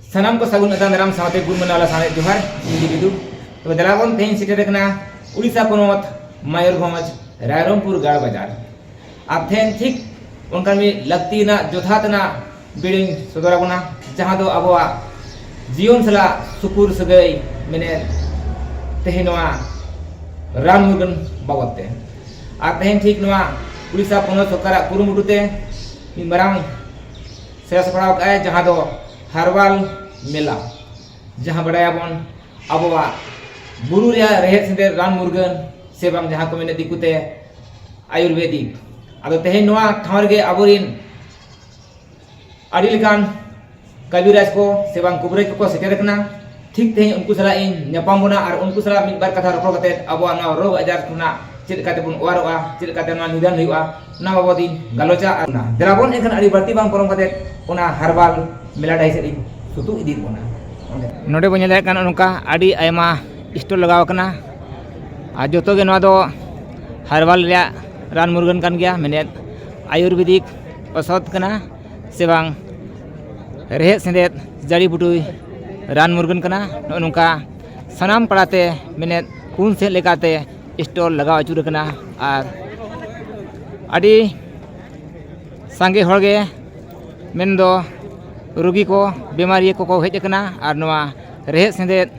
ᱥᱟᱱᱟᱢ ᱠᱚ ᱥᱟᱹᱜᱩᱱ ᱟᱛᱟᱝ ᱫᱟᱨᱟᱢ ᱥᱟᱶᱛᱮ ᱜᱩᱨ ᱢᱟᱱᱟᱣ ᱞᱟᱥᱟᱬᱦᱮᱫ ᱡᱚᱦᱟᱨ ᱤᱧ ᱵᱤᱫᱩ ᱛᱚᱵᱮ ᱫᱮᱞᱟ ᱵᱚᱱ ᱛᱮᱦᱮᱧ ᱥᱮᱴᱮᱨ ᱟᱠᱟᱱᱟ ᱩᱲᱤᱥᱥᱟ ᱯᱚᱱᱚᱛ ᱢᱟᱭᱩᱨᱵᱷᱚᱸᱡᱽ ᱨᱟᱭᱨᱚᱝᱯᱩᱨ ᱜᱟᱲ ᱵᱟᱡᱟᱨ ᱟᱨ ᱛᱮᱦᱮᱧ ᱴᱷᱤᱠ ᱚᱱᱠᱟᱱ ᱢᱤᱫ ᱞᱟᱹᱠᱛᱤ ᱨᱮᱱᱟᱜ ᱡᱚᱛᱷᱟᱛ ᱨᱮᱱᱟᱜ ᱵᱤᱲᱤᱧ ᱥᱚᱫᱚᱨ ᱟᱵᱚᱱᱟ ᱡᱟᱦᱟᱸ ᱫᱚ ᱟᱵᱚᱣᱟᱜ ᱡᱤᱭᱚᱱ ᱥᱟᱞᱟᱜ ᱥᱩᱯᱩᱨ ᱥᱟᱹᱜᱟᱹᱭ ᱢᱮᱱᱮᱫ ᱛᱮᱦᱮᱧ ᱱᱚᱣᱟ ᱨᱟᱱ ᱢᱩᱨᱜᱟᱹᱱ ᱵᱟᱵᱚᱫ ᱛᱮ ᱟᱨ ᱛᱮᱦᱮᱧ ᱴᱷᱤᱠ ᱱᱚᱣᱟ ᱩᱲᱤᱥᱥᱟ ᱯᱚᱱᱚᱛ ᱥᱚᱨᱠᱟᱨᱟᱜ ᱠᱩᱨᱩᱢᱩᱴᱩ ᱛᱮ ᱢᱤᱫ ᱢᱟᱨᱟᱝ ᱥᱮᱥ ᱵᱟᱲᱟ ᱠᱟᱜᱼᱟᱭ ᱡᱟᱦᱟᱸ ᱫᱚ ᱦᱟᱨᱣᱟᱞ ᱢᱮᱞᱟ ᱡᱟᱦᱟᱸ ᱵᱟᱰᱟᱭᱟᱵᱚᱱ ᱟᱵᱚᱣᱟᱜ ᱵᱩᱨᱩ ᱨᱮᱭᱟᱜ ᱨᱮᱦᱮᱫ ᱥᱮᱸᱫᱮᱫ ᱨᱟᱱ ᱢᱩᱨᱜᱟᱹᱱ ᱥᱮ ᱵᱟᱝ ᱡᱟᱦᱟᱸ ᱠᱚ ᱢᱮᱱᱮᱫ ᱫᱤᱠᱩᱛᱮ ᱟᱭᱩᱨᱵᱮᱫᱤᱠ ᱟᱫᱚ ᱛᱮᱦᱮᱧ ᱱᱚᱣᱟ ᱴᱷᱟᱶ ᱨᱮᱜᱮ ᱟᱵᱚᱨᱮᱱ ᱟᱹᱰᱤ ᱞᱮᱠᱟᱱ ᱠᱟᱹᱵᱤᱨᱟᱡᱽ ᱠᱚ ᱥᱮ ᱵᱟᱝ ᱠᱩᱵᱨᱟᱹᱡᱽ ᱠᱚᱠᱚ ᱥᱮᱴᱮᱨ ᱠᱟᱱᱟ ᱴᱷᱤᱠ ᱛᱮᱦᱮᱧ ᱩᱱᱠᱩ ᱥᱟᱞᱟᱜ ᱤᱧ ᱧᱟᱯᱟᱢ ᱵᱚᱱᱟ ᱟᱨ ᱩᱱᱠᱩ ᱥᱟᱞᱟᱜ ᱢᱤᱫ ᱵᱟᱨ ᱠᱟᱛᱷᱟ ᱨᱚᱯᱚᱲ ᱠᱟᱛᱮ ᱟᱵᱚᱣᱟᱜ ᱱᱚᱣᱟ ᱨᱳᱜᱽ ᱟᱡᱟᱨ ᱠᱷᱚᱱᱟᱜ ᱪᱮᱫ ᱞᱮᱠᱟ ᱛᱮᱵᱚᱱ ᱚᱣᱟᱨᱚᱜᱼᱟ ᱪᱮᱫ ᱞᱮᱠᱟᱛᱮ ᱱᱚᱣᱟ ᱱᱤᱫᱷᱟᱹᱱ ᱦᱩᱭᱩᱜᱼᱟ ᱚᱱᱟ ᱵᱟᱵᱚᱫ ᱤᱧ ᱜᱟᱞᱚᱪᱟ ᱟᱨ ᱚᱱᱟ ᱫᱮᱞᱟ ᱵᱚᱱ ᱮᱱᱠᱷᱟᱱ ᱟᱹᱰᱤ ᱵᱟᱹᱲᱛᱤ ᱵᱟᱝ ᱯᱚᱞᱚᱢ ᱠᱟᱛᱮ ᱚᱱᱟ ᱦᱟᱨᱵᱟᱞ ᱢᱮᱞᱟ ᱰᱟᱹᱦᱤ ᱥᱮᱫ ᱤᱧ ᱥᱩᱛᱩᱜ ᱤᱫᱤᱭᱮᱫ ᱵᱚᱱᱟ ᱱᱚᱰᱮ ᱵᱚᱱ ᱧᱮᱞ ᱫᱟᱲᱮᱭᱟᱜ ᱠᱟᱱᱟ ᱱᱚᱝᱠᱟ ᱟᱹᱰᱤ ᱟᱭᱢᱟ ᱥᱴᱚᱞ ᱞᱟᱜᱟᱣ ᱟᱠᱟᱱᱟ ᱟᱨ ᱡᱚᱛᱚ ᱜᱮ ᱱᱚᱣᱟ ᱫᱚ ᱦᱟᱨᱵᱟᱞ ᱨᱮᱭᱟᱜ ᱨᱟᱱ ᱢᱩᱨᱜᱟᱹᱱ ᱠᱟᱱ ᱜᱮᱭᱟ ᱢᱮᱱᱮᱫ ᱟᱭᱩᱨᱵᱮᱫᱤᱠ ᱚᱥᱚᱫᱷ ᱠᱟᱱᱟ ᱥᱮ ᱵᱟᱝ ᱨᱮᱦᱮᱫ ᱥᱮᱸᱫᱮᱫ ᱡᱟᱹᱲᱤ ᱵᱩᱴᱤ ᱨᱟᱱ ᱢᱩᱨᱜᱟᱹᱱ ᱠᱟᱱᱟ ᱱᱚᱜᱼᱚ ᱱᱚᱝᱠᱟ ᱥᱟᱱᱟᱢ ᱯᱟᱲᱟᱛᱮ ᱢᱮᱱᱮᱫ ᱠᱩᱧ ᱥᱮᱫ ᱞᱮᱠᱟᱛᱮ ᱥᱴᱚᱞ ᱞᱟᱜᱟᱣ ᱟᱹᱪᱩᱨ ᱠᱟᱱᱟ ᱟᱨ ᱟᱹᱰᱤ ᱥᱟᱸᱜᱮ ᱦᱚᱲᱜᱮ ᱢᱮᱱᱫᱚ ᱨᱩᱜᱤ ᱠᱚ ᱵᱤᱢᱟᱨᱤᱭᱟᱹ ᱠᱚᱠᱚ ᱦᱮᱡ ᱠᱟᱱᱟ ᱟᱨ ᱱᱚᱣᱟ ᱨᱮᱦᱮᱫ ᱥᱮᱸᱫᱮᱫ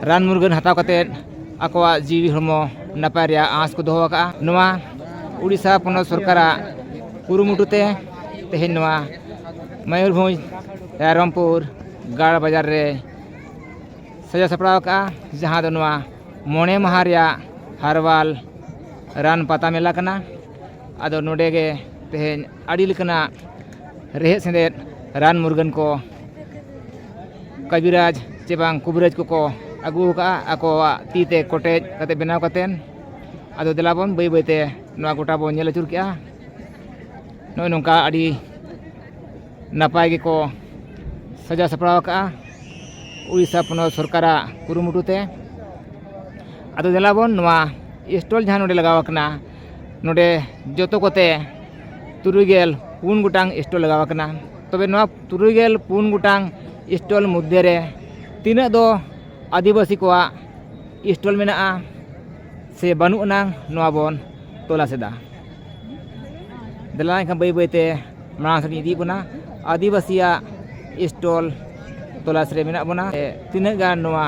ᱨᱟᱱ ᱢᱩᱨᱜᱟᱹᱱ ᱦᱟᱛᱟᱣ ᱠᱟᱛᱮᱫ ᱟᱠᱚᱣᱟᱜ ᱡᱤᱣᱤ ᱦᱚᱲᱢᱚ ᱱᱟᱯᱟᱭ ᱨᱮᱭᱟᱜ ᱟᱸᱥ ᱠᱚ ᱫᱚᱦᱚ ᱟᱠᱟᱫᱼᱟ ᱱᱚᱣᱟ ᱩᱲᱤᱥᱥᱟ ᱯᱚᱱᱚᱛ ᱥᱚᱨᱠᱟᱨᱟᱜ ᱠᱩᱨᱩᱢᱩᱴᱩ ᱛᱮ ᱛᱮᱦᱮᱧ ᱱᱚᱣᱟ ᱢᱚᱭᱩᱨᱵᱷᱚᱸᱡᱽ ᱨᱟᱭᱨᱚᱝᱯᱩᱨ ᱜᱟᱲ ᱵᱟᱡᱟᱨ ᱨᱮ ᱥᱟᱡᱟᱣ ᱥᱟᱯᱲᱟᱣ ᱟᱠᱟᱫᱼᱟ ᱡᱟᱦᱟᱸ ᱫᱚ ᱱᱚᱣᱟ ᱢᱚᱬᱮ ᱢᱟᱦᱟ ᱨᱮᱭᱟᱜ ᱦᱟᱨᱵᱟᱞ ᱨᱟᱱ ᱯᱟᱛᱟ ᱢᱮᱞᱟ ᱠᱟᱱᱟ ᱟᱫᱚ ᱱᱚᱰᱮ ᱜᱮ ᱛᱮᱦᱮᱧ ᱟᱹᱰᱤ ᱞᱮᱠᱟᱱᱟᱜ ᱨᱮᱦᱮᱫ ᱥᱮᱸᱫᱮᱫ ᱨᱟᱱ ᱢᱩᱨᱜᱟᱹᱱ ᱠᱚ ᱠᱟᱹᱵᱤᱨᱟᱡᱽ ᱪᱮ ᱵᱟᱝ ᱠᱩᱵᱤᱨᱟᱡᱽ ᱠᱚᱠᱚ ᱟᱹᱜᱩ ᱠᱟᱜᱼᱟ ᱟᱠᱚᱣᱟᱜ ᱛᱤ ᱛᱮ ᱠᱚᱴᱮᱡ ᱠᱟᱛᱮᱫ ᱵᱮᱱᱟᱣ ᱠᱟᱛᱮᱫ ᱟᱫᱚ ᱫᱮᱞᱟ ᱵᱚᱱ ᱵᱟᱹᱭ ᱵᱟᱹᱭ ᱛᱮ ᱱᱚᱣᱟ ᱜᱚᱴᱟ ᱵᱚᱱ ᱧᱮᱞ ᱟᱹᱪᱩᱨ ᱠᱮᱜᱼᱟ ᱱᱚᱜᱼᱚᱸᱭ ᱱᱚᱝᱠᱟ ᱟᱹᱰᱤ ᱱᱟᱯᱟᱭ ᱜᱮᱠᱚ ᱥᱟᱡᱟᱣ ᱥᱟᱯᱲᱟᱣ ᱠᱟᱜᱼᱟ ᱳᱰᱤᱥᱟ ᱯᱚᱱᱚᱛ ᱥᱚᱨᱠᱟᱨᱟᱜ ᱠᱩᱨᱩᱢᱩᱴᱩ ᱛᱮ ᱟᱫᱚ ᱫᱮᱞᱟ ᱵᱚᱱ ᱱᱚᱣᱟ ᱥᱴᱚᱞ ᱡᱟᱦᱟᱸ ᱱᱚᱰᱮ ᱞᱟᱜᱟᱣ ᱠᱟᱱᱟ ᱱᱚᱰᱮ ᱡᱚᱛᱚ ᱠᱚᱛᱮ ᱛᱩᱨᱩᱭ ᱜᱮᱞ ᱯᱩᱱ ᱜᱚᱴᱟᱝ ᱥᱴᱚᱞ ᱞᱟᱜᱟᱣ ᱟᱠᱟᱱᱟ ᱛᱚᱵᱮ ᱱᱚᱣᱟ ᱛᱩᱨᱩᱭ ᱜᱮᱞ ᱯᱩᱱ ᱜᱚᱴᱟᱝ ᱥᱴᱚᱞ ᱢᱚᱫᱽᱫᱷᱮ ᱨᱮ ᱛᱤᱱᱟᱹᱜ ᱫᱚ ᱟᱹᱫᱤᱵᱟᱹᱥᱤ ᱠᱚᱣᱟᱜ ᱥᱴᱚᱞ ᱢᱮᱱᱟᱜᱼᱟ ᱥᱮ ᱵᱟᱹᱱᱩᱜ ᱟᱱᱟᱝ ᱱᱚᱣᱟ ᱵᱚᱱ ᱛᱚᱞᱟᱥ ᱮᱫᱟ ᱫᱮᱞᱟ ᱮᱱᱠᱷᱟᱱ ᱵᱟᱹᱭ ᱵᱟᱹᱭᱛᱮ ᱢᱟᱲᱟᱝ ᱥᱮᱫ ᱤᱫᱤᱭᱮᱫ ᱵᱚᱱᱟ ᱟᱹᱫᱤᱵᱟᱹᱥᱤᱭᱟᱜ ᱥᱴᱚᱞ ᱛᱚᱞᱟᱥ ᱨᱮ ᱢᱮᱱᱟᱜ ᱵᱚᱱᱟ ᱛᱤᱱᱟᱹᱜ ᱜᱟᱱ ᱱᱚᱣᱟ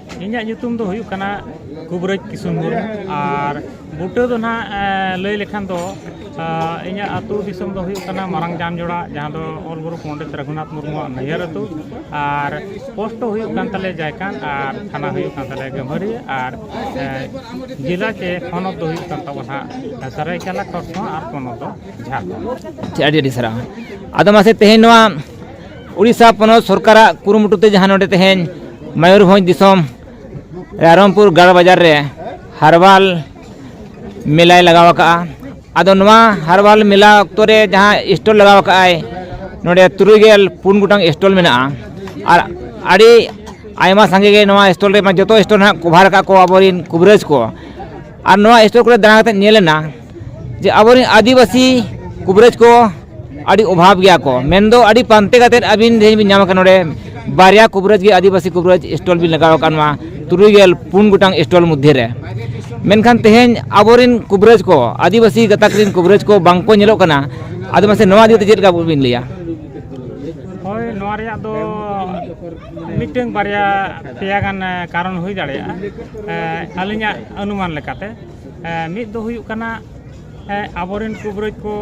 ᱤᱧᱟᱹᱜ ᱧᱩᱛᱩᱢ ᱫᱚ ᱦᱩᱭᱩᱜ ᱠᱟᱱᱟ ᱠᱩᱵᱽᱨᱟᱹᱡᱽ ᱠᱤᱥᱩᱱ ᱢᱩᱨᱢᱩ ᱟᱨ ᱵᱩᱴᱟᱹ ᱫᱚ ᱱᱟᱦᱟᱜ ᱞᱟᱹᱭ ᱞᱮᱠᱷᱟᱱ ᱫᱚ ᱤᱧᱟᱹᱜ ᱟᱹᱛᱩ ᱫᱤᱥᱚᱢ ᱫᱚ ᱦᱩᱭᱩᱜ ᱠᱟᱱᱟ ᱢᱟᱨᱟᱝ ᱡᱟᱱ ᱡᱚᱲᱟ ᱡᱟᱦᱟᱸ ᱫᱚ ᱚᱞ ᱜᱩᱨᱩ ᱯᱚᱱᱰᱤᱛ ᱨᱟᱹᱜᱷᱩᱱᱟᱛᱷ ᱢᱩᱨᱢᱩᱣᱟᱜ ᱱᱟᱹᱭᱦᱟᱹᱨ ᱟᱹᱛᱩ ᱟᱨ ᱯᱳᱥᱴ ᱫᱚ ᱦᱩᱭᱩᱜ ᱠᱟᱱ ᱛᱟᱞᱮᱭᱟ ᱡᱟᱭᱠᱷᱟᱱ ᱟᱨ ᱛᱷᱟᱱᱟ ᱦᱩᱭᱩᱜ ᱠᱟᱱ ᱛᱟᱞᱮᱭᱟ ᱜᱟᱹᱵᱷᱟᱹᱨᱤ ᱟᱨ ᱡᱮᱞᱟ ᱥᱮ ᱦᱚᱱᱚᱛ ᱫᱚ ᱦᱩᱭᱩᱜ ᱠᱟᱱ ᱛᱟᱵᱚᱱᱟ ᱱᱟᱦᱟᱜ ᱥᱟᱹᱨᱟᱹᱭᱠᱮᱞᱟ ᱠᱷᱚᱨᱥᱚᱶᱟ ᱟᱨ ᱯᱚᱱᱚᱛ ᱫᱚ ᱡᱷᱟᱲᱠᱷᱚᱸᱰ ᱟᱹᱰᱤ ᱟᱹᱰᱤ ᱥᱟᱨᱦᱟᱣ ᱟᱫᱚ ᱢᱟᱥᱮ ᱛᱮᱦᱮᱧ ᱱᱚᱣᱟ ᱩᱲᱤᱥᱥᱟ ᱯᱚᱱᱚᱛ ᱥᱚᱨᱠᱟᱨᱟᱜ ᱠᱩᱨᱩᱢᱩᱴᱩ ᱛᱮ ᱡᱟᱦᱟᱸ ᱱᱚᱰᱮ ᱛᱮᱦᱮᱧ ᱢᱚᱭᱩᱨᱵᱷᱚᱸᱡᱽ ᱫᱤᱥᱚᱢ ᱨᱟᱭᱨᱚᱝᱯᱩᱨ ᱜᱟᱲ ᱵᱟᱡᱟᱨ ᱨᱮ ᱦᱟᱨᱵᱟᱞ ᱢᱮᱞᱟᱭ ᱞᱟᱜᱟᱣ ᱟᱠᱟᱜᱼᱟ ᱟᱫᱚ ᱱᱚᱣᱟ ᱦᱟᱨᱵᱟᱞ ᱢᱮᱞᱟ ᱚᱠᱛᱚ ᱨᱮ ᱡᱟᱦᱟᱸ ᱥᱴᱚᱞ ᱞᱟᱜᱟᱣ ᱟᱠᱟᱜᱼᱟᱭ ᱱᱚᱰᱮ ᱛᱩᱨᱩᱭ ᱜᱮᱞ ᱯᱩᱱ ᱜᱚᱴᱟᱝ ᱥᱴᱚᱞ ᱢᱮᱱᱟᱜᱼᱟ ᱟᱨ ᱟᱹᱰᱤ ᱟᱭᱢᱟ ᱥᱟᱸᱜᱮ ᱜᱮ ᱱᱚᱣᱟ ᱥᱴᱚᱞ ᱨᱮ ᱡᱚᱛᱚ ᱥᱴᱚᱞ ᱦᱟᱸᱜ ᱠᱚᱵᱷᱟᱨ ᱟᱠᱟᱫ ᱠᱚ ᱟᱵᱚᱨᱮᱱ ᱠᱚᱵᱷᱟᱨ ᱟᱠᱟᱫ ᱠᱚ ᱟᱵᱚᱨᱮᱱ ᱠᱩᱵᱽᱨᱟᱹᱡᱽ ᱠᱚ ᱟᱨ ᱱᱚᱣᱟ ᱥᱴᱚᱞ ᱠᱚᱨᱮ ᱫᱟᱬᱟ ᱠᱟᱛᱮᱫ ᱧᱮᱞ ᱮᱱᱟ ᱡᱮ ᱟᱵᱚᱨᱮᱱ ᱟᱹᱫᱤᱵᱟᱹᱥᱤ ᱠᱩᱵᱨᱮᱡᱽ ᱠᱚ ᱟᱹᱰᱤ ᱚᱵᱷᱟᱵᱽ ᱜᱮᱭᱟ ᱠᱚ ᱢᱮᱱᱫᱚ ᱟᱹᱰᱤ ᱯᱟᱱᱛᱮ ᱠᱟᱛᱮᱫ ᱟᱹᱵᱤᱱ ᱛᱮᱦᱮᱧ ᱵᱤᱱ ᱧᱟᱢ ᱟᱠᱟᱱᱟ ᱱᱚᱰᱮ ᱵᱟᱨᱭᱟ ᱠᱩᱵᱨᱮᱡᱽ ᱜᱮ ᱟᱹᱫᱤᱵᱟᱹᱥᱤ ᱠᱩᱵᱨᱮᱡᱽ ᱥᱴᱚᱞ ᱵᱤᱱ ᱞᱟᱜᱟᱣ ᱟᱠᱟᱫ ᱢᱟ ᱛᱩᱨᱩᱭ ᱜᱮᱞ ᱯᱩᱱ ᱜᱚᱴᱟᱝ ᱥᱴᱚᱞ ᱢᱚᱫᱽᱫᱷᱮ ᱨᱮ ᱢᱮᱱᱠᱷᱟᱱ ᱛᱮᱦᱮᱧ ᱟᱵᱚᱨᱮᱱ ᱠᱩᱵᱨᱮᱡᱽ ᱠᱚ ᱟᱹᱫᱤᱵᱟᱹᱥᱤ ᱜᱟᱛᱟᱠ ᱨᱮᱱ ᱠᱩᱵᱨᱮᱡᱽ ᱠᱚ ᱵᱟᱝ ᱠᱚ ᱧᱮᱞᱚᱜ ᱠᱟᱱᱟ ᱟᱫᱚ ᱢᱟᱥᱮ ᱱᱚᱣᱟ ᱤᱫᱤ ᱠᱟᱛᱮ ᱪᱮᱫ ᱞᱮᱠᱟ ᱵᱤᱱ ᱞᱟᱹᱭᱟ ᱦᱳᱭ ᱱᱚᱣᱟ ᱨᱮᱭᱟᱜ ᱫᱚ ᱢᱤᱫᱴᱟᱝ ᱵᱟᱨᱭᱟ ᱯᱮᱭᱟ ᱜᱟᱱ ᱠᱟᱨᱚᱱ ᱦᱩᱭ ᱫᱟᱲᱮᱭᱟᱜᱼᱟ ᱟᱹᱞᱤᱧᱟᱜ ᱚᱱᱩᱢᱟᱱ ᱞᱮᱠᱟᱛᱮ ᱢᱤᱫ ᱫᱚ ᱦᱩᱭᱩᱜ ᱠᱟᱱᱟ ᱟᱵᱚᱨᱮᱱ ᱠᱩᱵᱨᱟᱹᱡᱽ ᱠᱚ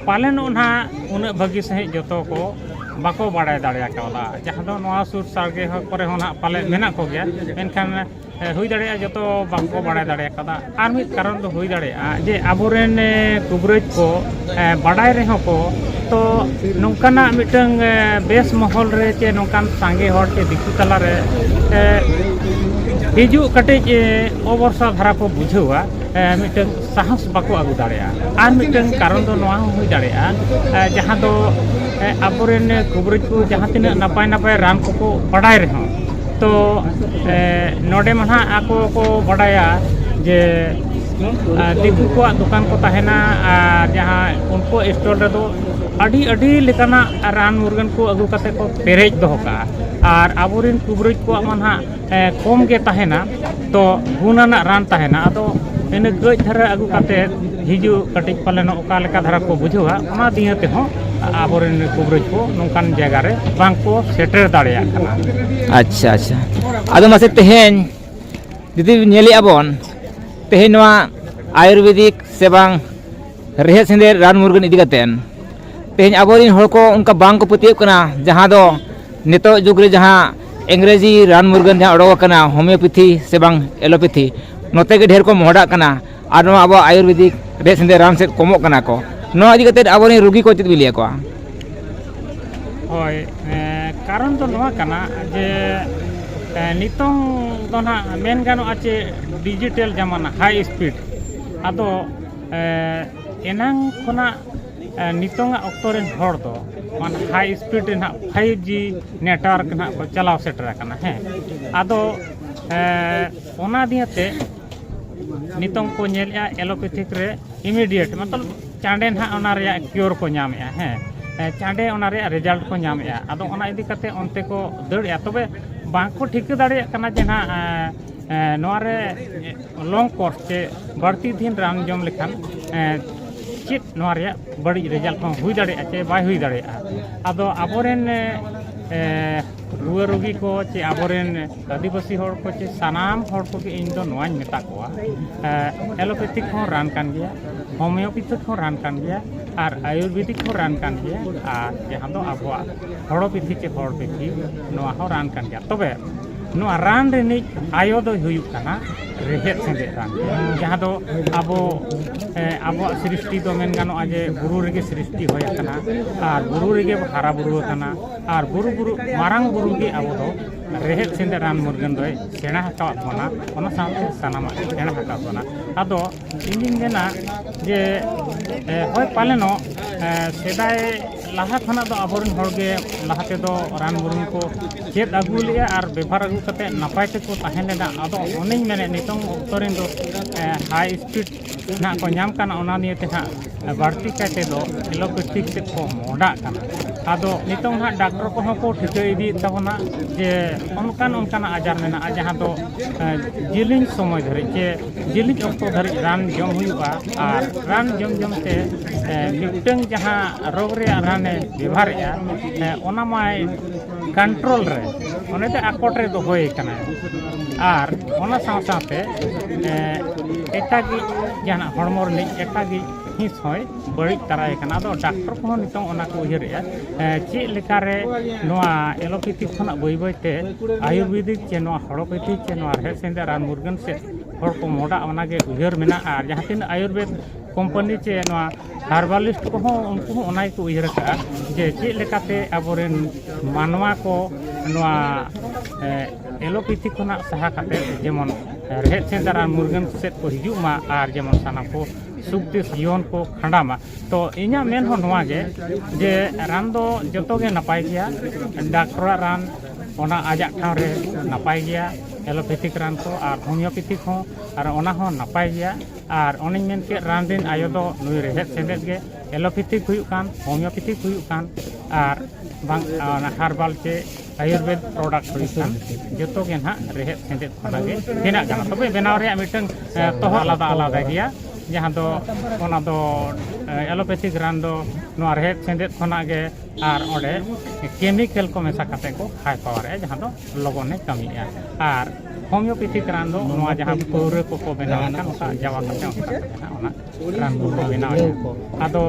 ᱯᱟᱞᱮᱱᱚᱜ ᱱᱟᱦᱟᱜ ᱩᱱᱟᱹᱜ ᱵᱷᱟᱹᱜᱤ ᱥᱟᱺᱦᱤᱡ ᱡᱚᱛᱚ ᱠᱚ ᱵᱟᱠᱚ ᱵᱟᱲᱟᱭ ᱫᱟᱲᱮ ᱠᱟᱣᱫᱟ ᱡᱟᱦᱟᱸ ᱫᱚ ᱱᱚᱣᱟ ᱥᱩᱨ ᱥᱟᱰᱜᱮ ᱠᱚᱨᱮ ᱦᱚᱸ ᱱᱟᱦᱟᱜ ᱯᱟᱞᱮ ᱢᱮᱱᱟᱜ ᱠᱚᱜᱮᱭᱟ ᱢᱮᱱᱠᱷᱟᱱ ᱦᱩᱭ ᱫᱟᱲᱮᱭᱟᱜᱼᱟ ᱡᱚᱛᱚ ᱵᱟᱝ ᱠᱚ ᱵᱟᱲᱟᱭ ᱫᱟᱲᱮ ᱠᱟᱣᱫᱟ ᱟᱨ ᱢᱤᱫ ᱠᱟᱨᱚᱱ ᱫᱚ ᱦᱩᱭ ᱫᱟᱲᱮᱭᱟᱜᱼᱟ ᱡᱮ ᱟᱵᱚᱨᱮᱱ ᱠᱩᱵᱨᱟᱹᱡᱽ ᱠᱚ ᱵᱟᱰᱟᱭ ᱨᱮᱦᱚᱸ ᱠᱚ ᱛᱚ ᱱᱚᱝᱠᱟᱱᱟᱜ ᱢᱤᱫᱴᱟᱹᱝ ᱵᱮᱥ ᱢᱚᱦᱚᱞ ᱨᱮ ᱪᱮ ᱱᱚᱝᱠᱟᱱ ᱥᱟᱸᱜᱮ ᱦᱚᱲ ᱪᱮ ᱫᱤᱠᱩ ᱛᱟᱞᱟ ᱨᱮ ᱦᱤᱡᱩᱜ ᱠᱟᱹᱴᱤᱡ ᱚᱵᱚᱨᱥᱟ ᱫᱷᱟᱨᱟ ᱠᱚ ᱵᱩᱡᱷᱟᱹᱣᱟ ᱢᱤᱫᱴᱟᱹᱝ ᱥᱟᱦᱚᱥ ᱵᱟᱠᱚ ᱟᱹᱜᱩ ᱫᱟᱲᱮᱭᱟᱜᱼᱟ ᱟᱨ ᱢᱤᱫᱴᱟᱹᱝ ᱠᱟᱨᱚᱱ ᱫᱚ ᱱᱚᱣᱟ ᱦᱚᱸ ᱦᱩᱭ ᱫᱟᱲᱮᱭᱟᱜᱼᱟ ᱡᱟᱦᱟᱸ ᱫᱚ ᱟᱵᱚ ᱨᱮᱱ ᱠᱚᱵᱤᱨᱟᱹᱡᱽ ᱠᱚ ᱡᱟᱦᱟᱸ ᱛᱤᱱᱟᱹᱜ ᱱᱟᱯᱟᱭ ᱱᱟᱯᱟᱭ ᱨᱟᱱ ᱠᱚᱠᱚ ᱵᱟᱰᱟᱭ ᱨᱮᱦᱚᱸ ᱛᱚ ᱱᱚᱰᱮ ᱢᱟ ᱱᱟᱦᱟᱜ ᱟᱠᱚ ᱠᱚ ᱵᱟᱰᱟᱭᱟ ᱡᱮ ᱫᱤᱠᱩ ᱠᱚᱣᱟᱜ ᱫᱚᱠᱟᱱ ᱠᱚ ᱛᱟᱦᱮᱱᱟ ᱟᱨ ᱡᱟᱦᱟᱸ ᱩᱱᱠᱩ ᱥᱴᱚᱞ ᱨᱮᱫᱚ ᱟᱹᱰᱤ ᱟᱹᱰᱤ ᱞᱮᱠᱟᱱᱟᱜ ᱨᱟᱱ ᱢᱩᱨᱜᱟᱹᱱ ᱠᱚ ᱟᱹᱜᱩ ᱠᱟᱛᱮ ᱠᱚ ᱯᱮᱨᱮᱡ ᱫᱚᱦᱚ ᱠᱟᱜᱼᱟ ᱟᱨ ᱟᱵᱚᱨᱮᱱ ᱠᱩᱵᱽᱨᱟᱹᱡᱽ ᱠᱚᱣᱟᱜ ᱢᱟ ᱱᱟᱦᱟᱜ ᱠᱚᱢ ᱜᱮ ᱛᱟᱦᱮᱱᱟ ᱛᱚ ᱜᱩᱱ ᱟᱱᱟᱜ ᱨᱟᱱ ᱛᱟᱦᱮᱱᱟ ᱟᱫᱚ ᱤᱱᱟᱹ ᱠᱟᱹᱡ ᱫᱷᱟᱨᱟ ᱟᱹᱜᱩ ᱠᱟᱛᱮ ᱦᱤᱡᱩᱜ ᱠᱟᱹᱴᱤᱡ ᱯᱟᱞᱮᱱ ᱚᱠᱟ ᱞᱮᱠᱟ ᱫᱷᱟᱨᱟ ᱠᱚ ᱵᱩᱡᱷᱟᱹᱣᱟ ᱚᱱᱟ ᱫᱤᱭᱮ ᱛᱮᱦᱚᱸ ᱟᱵᱚᱨᱮᱱ ᱠᱩᱵᱽᱨᱟᱹᱡᱽ ᱠᱚ ᱱᱚᱝᱠᱟᱱ ᱡᱟᱭᱜᱟ ᱨᱮ ᱵᱟᱝ ᱠᱚ ᱥᱮᱴᱮᱨ ᱫᱟᱲᱮᱭᱟᱜ ᱠᱟᱱᱟ ᱟᱪᱪᱷᱟ ᱟᱪᱪᱷᱟ ᱟᱫᱚ ᱢᱟᱥᱮ ᱛᱮᱦᱮᱧ ᱡᱩᱫᱤ ᱧᱮᱞᱮᱫᱼᱟ ᱵᱚᱱ ᱛᱮᱦᱮᱧ ᱱᱚᱣᱟ ᱟᱭᱩᱨᱵᱮᱫᱤᱠ ᱥᱮ ᱵᱟᱝ ᱨᱮᱦᱮᱫ ᱥᱮᱸᱫᱮᱫ ᱨᱟᱱ ᱢᱩᱨᱜᱟᱹᱱ ᱤᱫᱤ ᱠᱟᱛᱮᱫ ᱛᱮᱦᱮᱧ ᱟᱵᱚ ᱨᱮᱱ ᱦᱚᱲ ᱠᱚ ᱚᱱᱠᱟ ᱵᱟᱝ ᱠᱚ ᱯᱟᱹᱛᱭᱟᱹᱜ ᱠᱟᱱᱟ ᱡᱟᱦᱟᱸ ᱫᱚ ᱱᱤᱛᱚᱜ ᱡᱩᱜᱽ ᱨᱮ ᱡᱟᱦᱟᱸ ᱤᱝᱨᱮᱡᱤ ᱨᱟᱱ ᱢᱩᱨᱜᱟᱹᱱ ᱡᱟᱦᱟᱸ ᱚᱰᱚᱠ ᱟᱠᱟᱱᱟ ᱦᱳᱢᱤᱭᱳᱯᱮᱛᱷᱤ ᱥᱮ ᱵᱟᱝ ᱮᱞᱳᱯᱮᱛᱷᱤ ᱱᱚᱛᱮ ᱜᱮ ᱰᱷᱮᱨ ᱠᱚ ᱢᱚᱦᱰᱟᱜ ᱠᱟᱱᱟ ᱟᱨ ᱱᱚᱣᱟ ᱟᱵᱚ ᱟᱭᱩᱨᱵᱮᱫᱤᱠ ᱨᱮ ᱥᱮᱸᱫᱮ ᱨᱟᱱ ᱥᱮᱫ ᱠᱚᱢᱚᱜ ᱠᱟᱱᱟ ᱠᱚ ᱱᱚᱣᱟ ᱤᱫᱤ ᱠᱟᱛᱮ ᱟᱵᱚ ᱨᱮᱱ ᱨᱩᱜᱤ ᱠᱚ ᱪᱮᱫ ᱵᱤᱱ ᱞᱟᱹᱭ ᱟᱠᱚᱣᱟ ᱦᱳᱭ ᱠᱟᱨᱚᱱ ᱫᱚ ᱱᱚᱣᱟ ᱠᱟᱱᱟ ᱡᱮ ᱱᱤᱛᱚᱝ ᱫᱚ ᱱᱟᱜ ᱢᱮᱱ ᱜᱟᱱᱚᱜᱼᱟ ᱪᱮ ᱰᱤᱡᱤᱴᱮᱞ ᱡᱟᱢᱟᱱᱟ ᱦᱟᱭ ᱥᱯᱤᱰ ᱟᱫᱚ ᱮᱱᱟᱝ ᱠᱷᱚᱱᱟᱜ ᱱᱤᱛᱚᱝᱟᱜ ᱚᱠᱛᱚ ᱨᱮᱱ ᱦᱚᱲ ᱫᱚ ᱢᱟᱱᱮ ᱦᱟᱭ ᱥᱯᱤᱰ ᱨᱮ ᱱᱟᱜ ᱯᱷᱟᱭᱤᱵᱽ ᱡᱤ ᱱᱮᱴᱣᱟᱨᱠ ᱱᱟᱜ ᱠᱚ ᱪᱟᱞᱟᱣ ᱥᱮᱴᱮᱨ ᱟᱠᱟᱱᱟ ᱦᱮᱸ ᱟᱫᱚ ᱚᱱᱟ ᱫᱤᱭᱮᱛᱮ ᱱᱤᱛᱚᱝ ᱠᱚ ᱧᱮᱞᱮᱜᱼᱟ ᱮᱞᱳᱯᱮᱛᱷᱤᱠ ᱨᱮ ᱤᱢᱤᱰᱤᱭᱮᱴ ᱢᱚᱛᱞᱚᱵ ᱪᱟᱬᱮ ᱱᱟᱦᱟᱜ ᱚᱱᱟ ᱨᱮᱭᱟᱜ ᱠᱤᱭᱳᱨ ᱠᱚ ᱧᱟᱢᱮᱜᱼᱟ ᱦᱮᱸ ᱪᱟᱬᱮ ᱚᱱᱟ ᱨᱮᱭᱟᱜ ᱨᱮᱡᱟᱞᱴ ᱠᱚ ᱧᱟᱢᱮᱜᱼᱟ ᱟᱫᱚ ᱚᱱᱟ ᱤᱫᱤ ᱠᱟᱛᱮ ᱚᱱᱛᱮ ᱠᱚ ᱫᱟᱹᱲᱮᱜᱼᱟ ᱛᱚᱵᱮ ᱵᱟᱝ ᱠᱚ ᱴᱷᱤᱠᱟᱹ ᱫᱟᱲᱮᱭᱟᱜ ᱠᱟᱱᱟ ᱡᱮ ᱱᱟᱜ ᱱᱚᱣᱟ ᱨᱮ ᱞᱚᱝ ᱠᱳᱨᱥ ᱥᱮ ᱵᱟᱹᱲᱛᱤ ᱫᱤᱱ ᱨᱟᱱ ᱡᱚᱢ ᱞᱮᱠᱷᱟᱱ ᱪᱮᱫ ᱱᱚᱣᱟ ᱨᱮᱭᱟᱜ ᱵᱟᱹᱲᱤᱡ ᱨᱮᱡᱟᱞᱴ ᱦᱚᱸ ᱦᱩᱭ ᱫᱟᱲᱮᱭᱟᱜᱼᱟ ᱥᱮ ᱵᱟᱭ ᱦᱩᱭ ᱫᱟᱲᱮᱭᱟᱜᱼᱟ ᱟᱫᱚ ᱟᱵᱚ ᱨᱮᱱ ᱨᱩᱣᱟᱹ ᱨᱩᱜᱤ ᱠᱚ ᱥᱮ ᱟᱵᱚ ᱨᱮᱱ ᱟᱹᱫᱤᱵᱟᱹᱥᱤ ᱦᱚᱲ ᱠᱚ ᱪᱮ ᱥᱟᱱᱟᱢ ᱦᱚᱲ ᱠᱚᱜᱮ ᱤᱧ ᱫᱚ ᱱᱚᱣᱟᱧ ᱢᱮᱛᱟ ᱠᱚᱣᱟ ᱮᱞᱳᱯᱮᱛᱷᱤᱠ ᱦᱚᱸ ᱨᱟᱱ ᱠᱟᱱ ᱜᱮᱭᱟ ᱦᱳᱢᱤᱭᱳᱯᱮᱛᱷᱤᱠ ᱦᱚᱸ ᱨᱟᱱ ᱠᱟᱱ ᱜᱮᱭᱟ ᱟᱨ ᱟᱭᱩᱨᱵᱮᱫᱤᱠ ᱦᱚᱸ ᱨᱟᱱ ᱠᱟᱱ ᱜᱮᱭᱟ ᱟᱨ ᱡᱟᱦᱟᱸ ᱫᱚ ᱟᱵᱚᱣᱟᱜ ᱦᱚᱲᱚ ᱯᱤᱛᱷᱤ ᱪᱮ ᱦᱚᱲ ᱯᱤᱛᱷᱤ ᱱᱚᱣᱟ ᱦᱚᱸ ᱨᱟᱱ ᱠᱟᱱ ᱜᱮᱭᱟ ᱛᱚᱵᱮ ᱱᱚᱣᱟ ᱨᱟᱱ ᱨᱤᱱᱤᱡ ᱟᱭᱳ ᱫᱚᱭ ᱦᱩᱭᱩᱜ ᱠᱟᱱᱟ ᱨᱮᱦᱮᱫ ᱥᱮᱸᱫᱮᱫ ᱨᱟᱱ ᱡᱟᱦᱟᱸ ᱫᱚ ᱟᱵᱚ ᱟᱵᱚᱣᱟᱜ ᱥᱨᱤᱥᱴᱤ ᱫᱚ ᱢᱮᱱ ᱜᱟᱱᱚᱜᱼᱟ ᱡᱮ ᱵᱩᱨᱩ ᱨᱮᱜᱮ ᱥᱨᱤᱥᱴᱤ ᱦᱩᱭ ᱟᱠᱟᱱᱟ ᱟᱨ ᱵᱩᱨᱩ ᱨᱮᱜᱮ ᱵᱚᱱ ᱦᱟᱨᱟ ᱵᱩᱨᱩ ᱟᱠᱟᱱᱟ ᱟᱨ ᱵᱩᱨᱩ ᱵᱩᱨᱩ ᱢᱟᱨᱟᱝ ᱵᱩᱨᱩ ᱜᱮ ᱟᱵᱚ ᱫᱚ ᱨᱮᱦᱮᱫ ᱥᱮᱸᱫᱮᱫ ᱨᱟᱱ ᱢᱩᱨᱜᱟᱹᱱ ᱫᱚᱭ ᱥᱮᱬᱟ ᱟᱠᱟᱫ ᱵᱚᱱᱟ ᱚᱱᱟ ᱥᱟᱶᱛᱮ ᱥᱟᱱᱟᱢᱟᱜ ᱜᱮ ᱥᱮᱬᱟ ᱟᱠᱟᱫ ᱵᱚᱱᱟ ᱟᱫᱚ ᱤᱧᱫᱩᱧ ᱢᱮᱱᱟ ᱡᱮ ᱦᱳᱭ ᱯᱟᱞᱮᱱᱚᱜ ᱥᱮᱫᱟᱭ ᱞᱟᱦᱟ ᱠᱷᱚᱱᱟᱜ ᱫᱚ ᱟᱵᱚ ᱨᱮᱱ ᱦᱚᱲ ᱜᱮ ᱞᱟᱦᱟ ᱛᱮᱫᱚ ᱨᱟᱱ ᱢᱩᱨᱜᱟᱹᱱ ᱠᱚ ᱪᱮᱫ ᱟᱹᱜᱩ ᱞᱮᱫᱼᱟ ᱟᱨ ᱵᱮᱵᱷᱟᱨ ᱟᱹᱜᱩ ᱠᱟᱛᱮᱫ ᱱᱟᱯᱟᱭ ᱛᱮᱠᱚ ᱛᱟᱦᱮᱸ ᱞᱮᱱᱟ ᱟᱫᱚ ᱚᱱᱮᱧ ᱢᱮᱱᱮᱫ ᱱᱤᱛᱚᱝ ᱚᱠᱛᱚ ᱨᱮᱱ ᱫᱚ ᱦᱟᱭ ᱥᱯᱤᱰ ᱱᱟᱜ ᱠᱚ ᱧᱟᱢ ᱠᱟᱱᱟ ᱚᱱᱟ ᱱᱤᱭᱮ ᱛᱮ ᱱᱟᱜ ᱵᱟᱹᱲᱛᱤ ᱠᱟᱭ ᱛᱮᱫᱚ ᱮᱞᱳᱯᱮᱛᱷᱤᱠ ᱥᱮᱫ ᱠᱚ ᱢᱚᱦᱚᱰᱟᱜ ᱠᱟᱱᱟ ᱟᱫᱚ ᱱᱤᱛᱚᱝ ᱦᱟᱸᱜ ᱰᱟᱠᱴᱚᱨ ᱠᱚᱦᱚᱸ ᱠᱚ ᱴᱷᱤᱠᱟᱹ ᱤᱫᱤᱭᱮᱫ ᱛᱟᱵᱚᱱᱟ ᱡᱮ ᱚᱱᱠᱟᱱ ᱚᱱᱠᱟᱱᱟᱜ ᱟᱡᱟᱨ ᱢᱮᱱᱟᱜᱼᱟ ᱡᱟᱦᱟᱸ ᱫᱚ ᱡᱤᱞᱤᱧ ᱥᱚᱢᱚᱭ ᱫᱷᱟᱹᱨᱤᱡ ᱪᱮ ᱡᱤᱞᱤᱧ ᱚᱠᱛᱚ ᱫᱷᱟᱹᱨᱤᱡ ᱨᱟᱱ ᱡᱚᱢ ᱦᱩᱭᱩᱜᱼᱟ ᱟᱨ ᱨᱟᱱ ᱡᱚᱢ ᱡᱚᱢ ᱛᱮ ᱢᱤᱫᱴᱟᱹᱝ ᱡᱟᱦᱟᱸ ᱨᱳᱜᱽ ᱨᱮᱭᱟᱜ ᱨᱟᱱᱮ ᱵᱮᱵᱷᱟᱨᱮᱫᱼᱟ ᱚᱱᱟ ᱢᱟᱭ ᱠᱚᱱᱴᱨᱳᱞ ᱨᱮ ᱚᱱᱮ ᱫᱚ ᱟᱠᱚᱴ ᱨᱮ ᱫᱚᱦᱚᱭᱮ ᱠᱟᱱᱟ ᱟᱨ ᱚᱱᱟ ᱥᱟᱶ ᱥᱟᱶᱛᱮ ᱮᱴᱟᱜᱤᱡ ᱡᱟᱦᱟᱱᱟᱜ ᱦᱚᱲᱢᱚ ᱨᱤᱱᱤᱡ ᱮᱴᱟᱜᱤᱡ ᱦᱤᱸᱥ ᱦᱚᱸᱭ ᱵᱟᱹᱲᱤᱡ ᱛᱟᱨᱟᱭᱮ ᱠᱟᱱᱟ ᱟᱫᱚ ᱰᱟᱠᱴᱚᱨ ᱠᱚᱦᱚᱸ ᱱᱤᱛᱚᱝ ᱚᱱᱟ ᱠᱚ ᱩᱭᱦᱟᱹᱨᱮᱜᱼᱟ ᱪᱮᱫ ᱞᱮᱠᱟᱨᱮ ᱱᱚᱣᱟ ᱮᱞᱳᱯᱮᱛᱷᱤ ᱠᱷᱚᱱᱟᱜ ᱵᱟᱹᱭ ᱵᱟᱹᱭᱛᱮ ᱟᱭᱩᱨᱵᱮᱫᱤᱠ ᱪᱮ ᱱᱚᱣᱟ ᱦᱚᱲᱳᱯᱮᱛᱷᱤ ᱪᱮ ᱱᱚᱣᱟ ᱨᱮᱦᱮᱫ ᱥᱮᱸᱫᱮᱫ ᱨᱟᱱ ᱢᱩᱨᱜᱟᱹᱱ ᱥᱮᱫ ᱦᱚᱲ ᱠᱚ ᱢᱚᱦᱰᱟᱜ ᱚᱱᱟᱜᱮ ᱩᱭᱦᱟᱹᱨ ᱢᱮᱱᱟᱜᱼᱟ ᱟᱨ ᱡᱟᱦᱟᱸ ᱛᱤᱱᱟᱹᱜ ᱟᱭᱩᱨᱵᱮᱫ ᱠᱳᱢᱯᱟᱱᱤ ᱪᱮ ᱱᱚᱣᱟ ᱦᱟᱨᱵᱟᱞᱤᱥᱴ ᱠᱚᱦᱚᱸ ᱩᱱᱠᱩ ᱦᱚᱸ ᱚᱱᱟ ᱜᱮᱠᱚ ᱩᱭᱦᱟᱹᱨ ᱟᱠᱟᱫᱼᱟ ᱡᱮ ᱪᱮᱫ ᱞᱮᱠᱟᱛᱮ ᱟᱵᱚᱨᱮᱱ ᱢᱟᱱᱣᱟ ᱠᱚ ᱱᱚᱣᱟ ᱮᱞᱳᱯᱮᱛᱷᱤ ᱠᱷᱚᱱᱟᱜ ᱥᱟᱦᱟ ᱠᱟᱛᱮ ᱡᱮᱢᱚᱱ ᱨᱮᱦᱮᱫ ᱥᱮᱸᱫᱽᱨᱟ ᱨᱟᱱ ᱢᱩᱨᱜᱟᱹᱱ ᱥᱮᱫ ᱠᱚ ᱦᱤᱡᱩᱜ ᱢᱟ ᱟᱨ ᱡᱮᱢᱚᱱ ᱥᱟᱱᱟᱢ ᱠᱚ ᱥᱩᱠᱛᱮ ᱡᱤᱭᱚᱱ ᱠᱚ ᱠᱷᱟᱸᱰᱟᱣ ᱢᱟ ᱛᱚ ᱤᱧᱟᱹᱜ ᱢᱮᱱ ᱦᱚᱸ ᱱᱚᱣᱟ ᱜᱮ ᱡᱮ ᱨᱟᱱ ᱫᱚ ᱡᱚᱛᱚ ᱜᱮ ᱱᱟᱯᱟᱭ ᱜᱮᱭᱟ ᱰᱟᱠᱴᱚᱨᱟᱜ ᱨᱟᱱ ᱚᱱᱟ ᱟᱡᱟᱜ ᱴᱷᱟᱶ ᱨᱮ ᱱᱟᱯᱟᱭ ᱜᱮᱭᱟ ᱮᱞᱳᱯᱮᱛᱷᱤᱠ ᱨᱟᱱ ᱠᱚ ᱟᱨ ᱦᱳᱢᱤᱭᱳᱯᱮᱛᱷᱤᱠ ᱦᱚᱸ ᱟᱨ ᱚᱱᱟ ᱦᱚᱸ ᱱᱟᱯᱟᱭ ᱜᱮᱭᱟ ᱟᱨ ᱚᱱᱮᱧ ᱢᱮᱱ ᱠᱮᱫ ᱨᱟᱱ ᱨᱮᱱ ᱟᱭᱳ ᱫᱚ ᱱᱩᱭ ᱨᱮᱦᱮᱫ ᱥᱮᱸᱫᱮᱫ ᱜᱮ ᱮᱞᱳᱯᱮᱛᱷᱤᱠ ᱦᱩᱭᱩᱜ ᱠᱟᱱ ᱦᱳᱢᱤᱭᱳᱯᱮᱛᱷᱤᱠ ᱦᱩᱭᱩᱜ ᱠᱟᱱ ᱟᱨ ᱵᱟᱝ ᱚᱱᱟ ᱦᱟᱨᱵᱟᱞ ᱥᱮ ᱟᱭᱩᱨᱵᱮᱫᱽ ᱯᱨᱚᱰᱟᱠᱴ ᱦᱩᱭᱩᱜ ᱠᱟᱱ ᱡᱚᱛᱚ ᱜᱮ ᱱᱟᱦᱟᱜ ᱨᱮᱦᱮᱫ ᱥᱮᱸᱫᱮᱫ ᱠᱷᱚᱱᱟᱜ ᱜᱮ ᱵᱮᱱᱟᱜ ᱠᱟᱱᱟ ᱛᱚᱵᱮ ᱵᱮᱱᱟᱣ ᱨᱮᱭᱟᱜ ᱢᱤᱫᱴᱟᱹᱝ ᱛᱚᱦᱚ ᱟᱞᱟᱫᱟ ᱟᱞᱟᱫᱟ ᱜᱮᱭᱟ ᱡᱟᱦᱟᱸ ᱫᱚ ᱚᱱᱟ ᱫᱚ ᱮᱞᱳᱯᱮᱛᱷᱤᱠ ᱨᱟᱱ ᱫᱚ ᱱᱚᱣᱟ ᱨᱮᱦᱮᱫ ᱥᱮᱸᱫᱮᱫ ᱠᱷᱚᱱᱟᱜ ᱜᱮ ᱟᱨ ᱚᱸᱰᱮ ᱠᱮᱢᱤᱠᱮᱞ ᱠᱚ ᱢᱮᱥᱟ ᱠᱟᱛᱮᱫ ᱠᱚ ᱦᱟᱭ ᱯᱟᱣᱟᱨᱮᱜᱼᱟ ᱡᱟᱦᱟᱸ ᱫᱚ ᱞᱚᱜᱚᱱᱮ ᱠᱟᱹᱢᱤᱭᱮᱜᱼᱟ ᱟᱨ ᱦᱳᱢᱤᱭᱳᱯᱮᱛᱷᱤ ᱨᱟᱱ ᱫᱚ ᱱᱚᱣᱟ ᱡᱟᱦᱟᱸ ᱯᱟᱹᱣᱨᱟᱹ ᱠᱚᱠᱚ ᱵᱮᱱᱟᱣ ᱠᱟᱱ ᱚᱱᱠᱟ ᱡᱟᱣᱟ ᱠᱟᱛᱮ ᱚᱱᱠᱟ ᱡᱟᱦᱟᱸ ᱚᱱᱟ ᱨᱟᱱ ᱠᱚᱠᱚ ᱵᱮᱱᱟᱣ ᱟᱫᱚ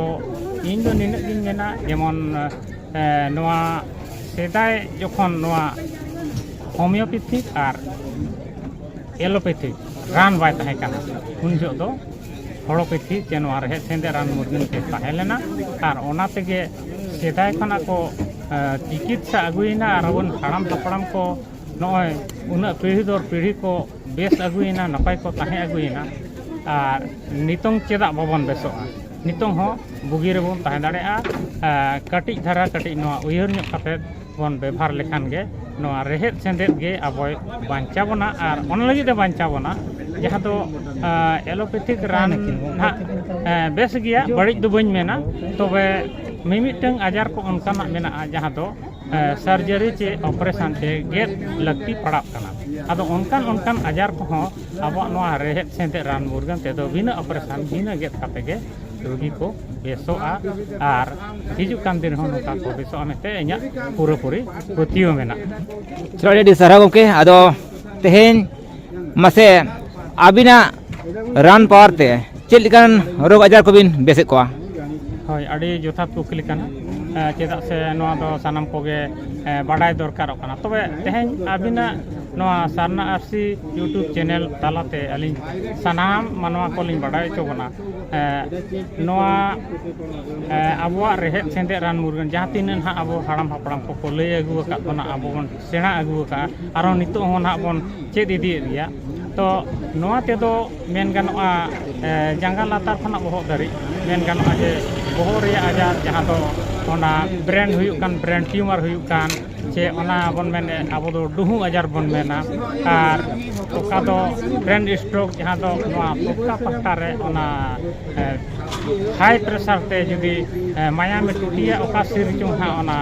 ᱤᱧ ᱫᱚ ᱱᱤᱱᱟᱹᱜ ᱜᱤᱧ ᱢᱮᱱᱟ ᱡᱮᱢᱚᱱ ᱱᱚᱣᱟ ᱥᱮᱫᱟᱭ ᱡᱚᱠᱷᱚᱱ ᱱᱚᱣᱟ ᱦᱳᱢᱤᱭᱳᱯᱮᱛᱷᱤ ᱟᱨ ᱮᱞᱳᱯᱮᱛᱷᱤ ᱨᱟᱱ ᱵᱟᱭ ᱛᱟᱦᱮᱸ ᱠᱟᱱᱟ ᱩᱱ ᱡᱚᱦᱚᱜ ᱫᱚ ᱦᱚᱲᱳᱯᱮᱛᱷᱤ ᱥᱮ ᱱᱚᱣᱟ ᱨᱮᱦᱮᱫ ᱥᱮᱸᱫᱮ ᱨᱟᱱ ᱢᱩᱨᱜᱟᱹᱱ ᱛᱮ ᱛᱟᱦᱮᱸ ᱞᱮᱱᱟ ᱟᱨ ᱚᱱᱟ ᱛᱮᱜᱮ ᱥᱮᱫᱟᱭ ᱠᱷᱚᱱᱟᱜ ᱠᱚ ᱪᱤᱠᱤᱛᱥᱟ ᱟᱹᱜᱩᱭᱮᱱᱟ ᱟᱨ ᱟᱵᱚᱨᱮᱱ ᱦᱟᱲᱟᱢ ᱦᱟᱯᱲᱟᱢ ᱠᱚ ᱱᱚᱜᱼᱚᱭ ᱩᱱᱟᱹᱜ ᱯᱤᱲᱦᱤ ᱫᱚᱨ ᱯᱤᱲᱦᱤ ᱠᱚ ᱵᱮᱥ ᱟᱹᱜᱩᱭᱮᱱᱟ ᱱᱟᱯᱟᱭ ᱠᱚ ᱛᱟᱦᱮᱸ ᱟᱹᱜᱩᱭᱮᱱᱟ ᱟᱨ ᱱᱤᱛᱚᱝ ᱪᱮᱫᱟᱜ ᱵᱟᱵᱚᱱ ᱵᱮᱥᱚᱜᱼᱟ ᱱᱤᱛᱚᱝ ᱦᱚᱸ ᱵᱩᱜᱤ ᱨᱮᱵᱚᱱ ᱛᱟᱦᱮᱸ ᱫᱟᱲᱮᱭᱟᱜᱼᱟ ᱠᱟᱹᱴᱤᱡ ᱫᱷᱟᱨᱟ ᱠᱟᱹᱴᱤᱡ ᱱᱚᱣᱟ ᱩᱭᱦᱟᱹᱨ ᱧᱚᱜ ᱠᱟᱛᱮᱫ ᱵᱚᱱ ᱵᱮᱵᱷᱟᱨ ᱞᱮᱠᱷᱟᱱ ᱜᱮ ᱱᱚᱣᱟ ᱨᱮᱦᱮᱫ ᱥᱮᱸᱫᱮᱫ ᱜᱮ ᱟᱵᱚᱭ ᱵᱟᱧᱪᱟᱣ ᱵᱚᱱᱟ ᱟᱨ ᱚᱱᱟ ᱞᱟᱹᱜᱤᱫ ᱮ ᱵᱟᱧᱪᱟᱣ ᱵᱚᱱᱟ ᱡᱟᱦᱟᱸ ᱫᱚ ᱮᱞᱳᱯᱮᱛᱷᱤᱠ ᱨᱟᱱ ᱦᱟᱸᱜ ᱵᱮᱥ ᱜᱮᱭᱟ ᱵᱟᱹᱲᱤᱡ ᱫᱚ ᱵᱟᱹᱧ ᱢᱮᱱᱟ ᱛᱚᱵᱮ ᱢᱤᱢᱤᱫᱴᱟᱹᱝ ᱟᱡᱟᱨ ᱠᱚ ᱚᱱᱠᱟᱱᱟᱜ ᱢᱮᱱᱟᱜᱼᱟ ᱡᱟᱦᱟᱸ ᱫᱚ ᱥᱟᱨᱡᱟᱨᱤ ᱪᱮ ᱚᱯᱟᱨᱮᱥᱚᱱ ᱛᱮ ᱜᱮᱫ ᱞᱟᱹᱠᱛᱤ ᱯᱟᱲᱟᱜ ᱠᱟᱱᱟ ᱟᱫᱚ ᱚᱱᱠᱟᱱ ᱚᱱᱠᱟᱱ ᱟᱡᱟᱨ ᱠᱚᱦᱚᱸ ᱟᱵᱚᱣᱟᱜ ᱱᱚᱣᱟ ᱨᱮᱦᱮᱫ ᱥᱮᱸᱫᱮᱛ ᱨᱟᱱ ᱢᱩᱨᱜᱟᱹᱱ ᱛᱮᱫᱚ ᱵᱤᱱᱟᱹ ᱚᱯᱟᱨᱮᱥᱚᱱ ᱵᱤᱱᱟᱹ ᱜᱮᱫ ᱠᱟᱛᱮ ᱜᱮ ᱨᱩᱜᱤ ᱠᱚ ᱵᱮᱥᱚᱜᱼᱟ ᱟᱨ ᱦᱤᱡᱩᱜ ᱠᱟᱱ ᱫᱤᱱ ᱨᱮᱦᱚᱸ ᱱᱚᱝᱠᱟ ᱠᱚ ᱵᱮᱥᱚᱜᱼᱟ ᱢᱮᱱᱛᱮ ᱤᱧᱟᱹᱜ ᱯᱩᱨᱟᱹᱯᱩᱨᱤ ᱯᱟᱹᱛᱭᱟᱹᱣ ᱢᱮᱱᱟᱜᱼᱟ ᱟᱹᱰᱤ ᱟᱹᱰᱤ ᱥᱟᱨᱦᱟᱣ ᱜᱚᱢᱠᱮ ᱟᱫᱚ ᱛᱮᱦᱮᱧ ᱢᱟᱥᱮ ᱟᱹᱵᱤᱱᱟᱜ ᱨᱟᱱ ᱯᱟᱣᱟᱨ ᱛᱮ ᱪᱮᱫ ᱞᱮᱠᱟᱱ ᱨᱳᱜᱽ ᱟᱡᱟᱨ ᱠᱚᱵᱤᱱ ᱵᱮᱥᱮᱫ ᱠᱚᱣᱟ ᱦᱳᱭ ᱟᱹᱰᱤ ᱡᱚᱛᱷᱟᱛ ᱠᱩᱠᱞᱤ ᱠᱟᱱᱟ ᱮᱸ, ᱪᱮᱫᱟᱜ ᱥᱮ ᱱᱚᱣᱟ ᱫᱚ ᱥᱟᱱᱟᱢ ᱠᱚᱜᱮ ᱮᱸ, ᱵᱟᱰᱟᱭ ᱫᱚᱨᱠᱟᱨᱚᱜ ᱠᱟᱱᱟ ᱛᱚᱵᱮ ᱛᱮᱦᱮᱧ ᱟᱹᱵᱤᱱᱟᱜ ᱱᱚᱣᱟ ᱥᱟᱨᱱᱟ ᱟᱨᱥᱤ ᱤᱭᱩᱴᱩᱵᱽ ᱪᱮᱱᱮᱞ ᱛᱟᱞᱟᱛᱮ ᱟᱹᱞᱤᱧ ᱥᱟᱱᱟᱢ ᱢᱟᱱᱣᱟ ᱠᱚᱞᱤᱧ ᱵᱟᱰᱟᱭ ᱦᱚᱪᱚ ᱵᱚᱱᱟ ᱮᱸ, ᱱᱚᱣᱟ ᱮᱸ, ᱟᱵᱚᱣᱟᱜ ᱨᱮᱦᱮᱫ ᱥᱮᱸᱫᱮᱫ ᱨᱟᱱ ᱢᱩᱨᱜᱟᱹᱱ ᱡᱟᱦᱟᱸ ᱛᱤᱱᱟᱹᱜ ᱱᱟᱦᱟᱜ ᱟᱵᱚ ᱦᱟᱲᱟᱢ ᱦᱟᱯᱲᱟᱢ ᱠᱚᱠᱚ ᱞᱟᱹᱭ ᱟᱹᱜᱩ ᱟᱠᱟᱫ ᱵᱚᱱᱟ ᱟᱵᱚ ᱵᱚᱱ ᱥᱮᱬᱟ ᱟᱹᱜᱩ ᱟᱠᱟᱫᱼᱟ ᱟᱨᱚ ᱱᱤᱛᱚᱜ ᱦᱚᱸ ᱱᱟᱦᱟᱜ ᱵᱚᱱ ᱪᱮᱫ ᱤᱫᱤᱭᱮᱫ ᱜᱮᱭᱟ ᱛᱚ ᱱᱚᱣᱟ ᱛᱮᱫᱚ ᱢᱮᱱ ᱜᱟᱱᱚᱜᱼᱟ ᱡᱟᱸᱜᱟ ᱞᱟᱛᱟᱨ ᱠᱷᱚᱱᱟᱜ ᱵᱚᱦᱚᱜ ᱫᱷᱟᱹᱨᱤᱡ ᱢᱮᱱ ᱜᱟᱱᱚᱜᱼᱟ ᱡᱮ ᱵᱚᱦᱚᱜ ᱨᱮᱭᱟᱜ ᱟᱡᱟᱨ ᱡᱟᱦᱟᱸ ᱫᱚ ᱚᱱᱟ ᱵᱨᱮᱱ ᱦᱩᱭᱩᱜ ᱠᱟᱱ ᱵᱨᱮᱱ ᱴᱤᱭᱩᱢᱟᱨ ᱦᱩᱭᱩᱜ ᱠᱟᱱ ᱥᱮ ᱚᱱᱟ ᱵᱚᱱ ᱢᱮᱱᱮᱫ ᱟᱵᱚ ᱫᱚ ᱰᱩᱦᱩ ᱟᱡᱟᱨ ᱵᱚᱱ ᱢᱮᱱᱟ ᱟᱨ ᱚᱠᱟ ᱫᱚ ᱵᱨᱮᱱ ᱥᱴᱨᱳᱠ ᱡᱟᱦᱟᱸ ᱫᱚ ᱱᱚᱣᱟ ᱯᱚᱠᱠᱟ ᱯᱟᱦᱴᱟ ᱨᱮ ᱚᱱᱟ ᱦᱟᱭ ᱯᱨᱮᱥᱟᱨ ᱛᱮ ᱡᱩᱫᱤ ᱢᱟᱭᱟᱢᱮ ᱴᱩᱴᱤᱭᱟ ᱚᱠᱟ ᱥᱤᱨ ᱪᱚᱝ ᱦᱟᱸᱜ ᱚᱱᱟ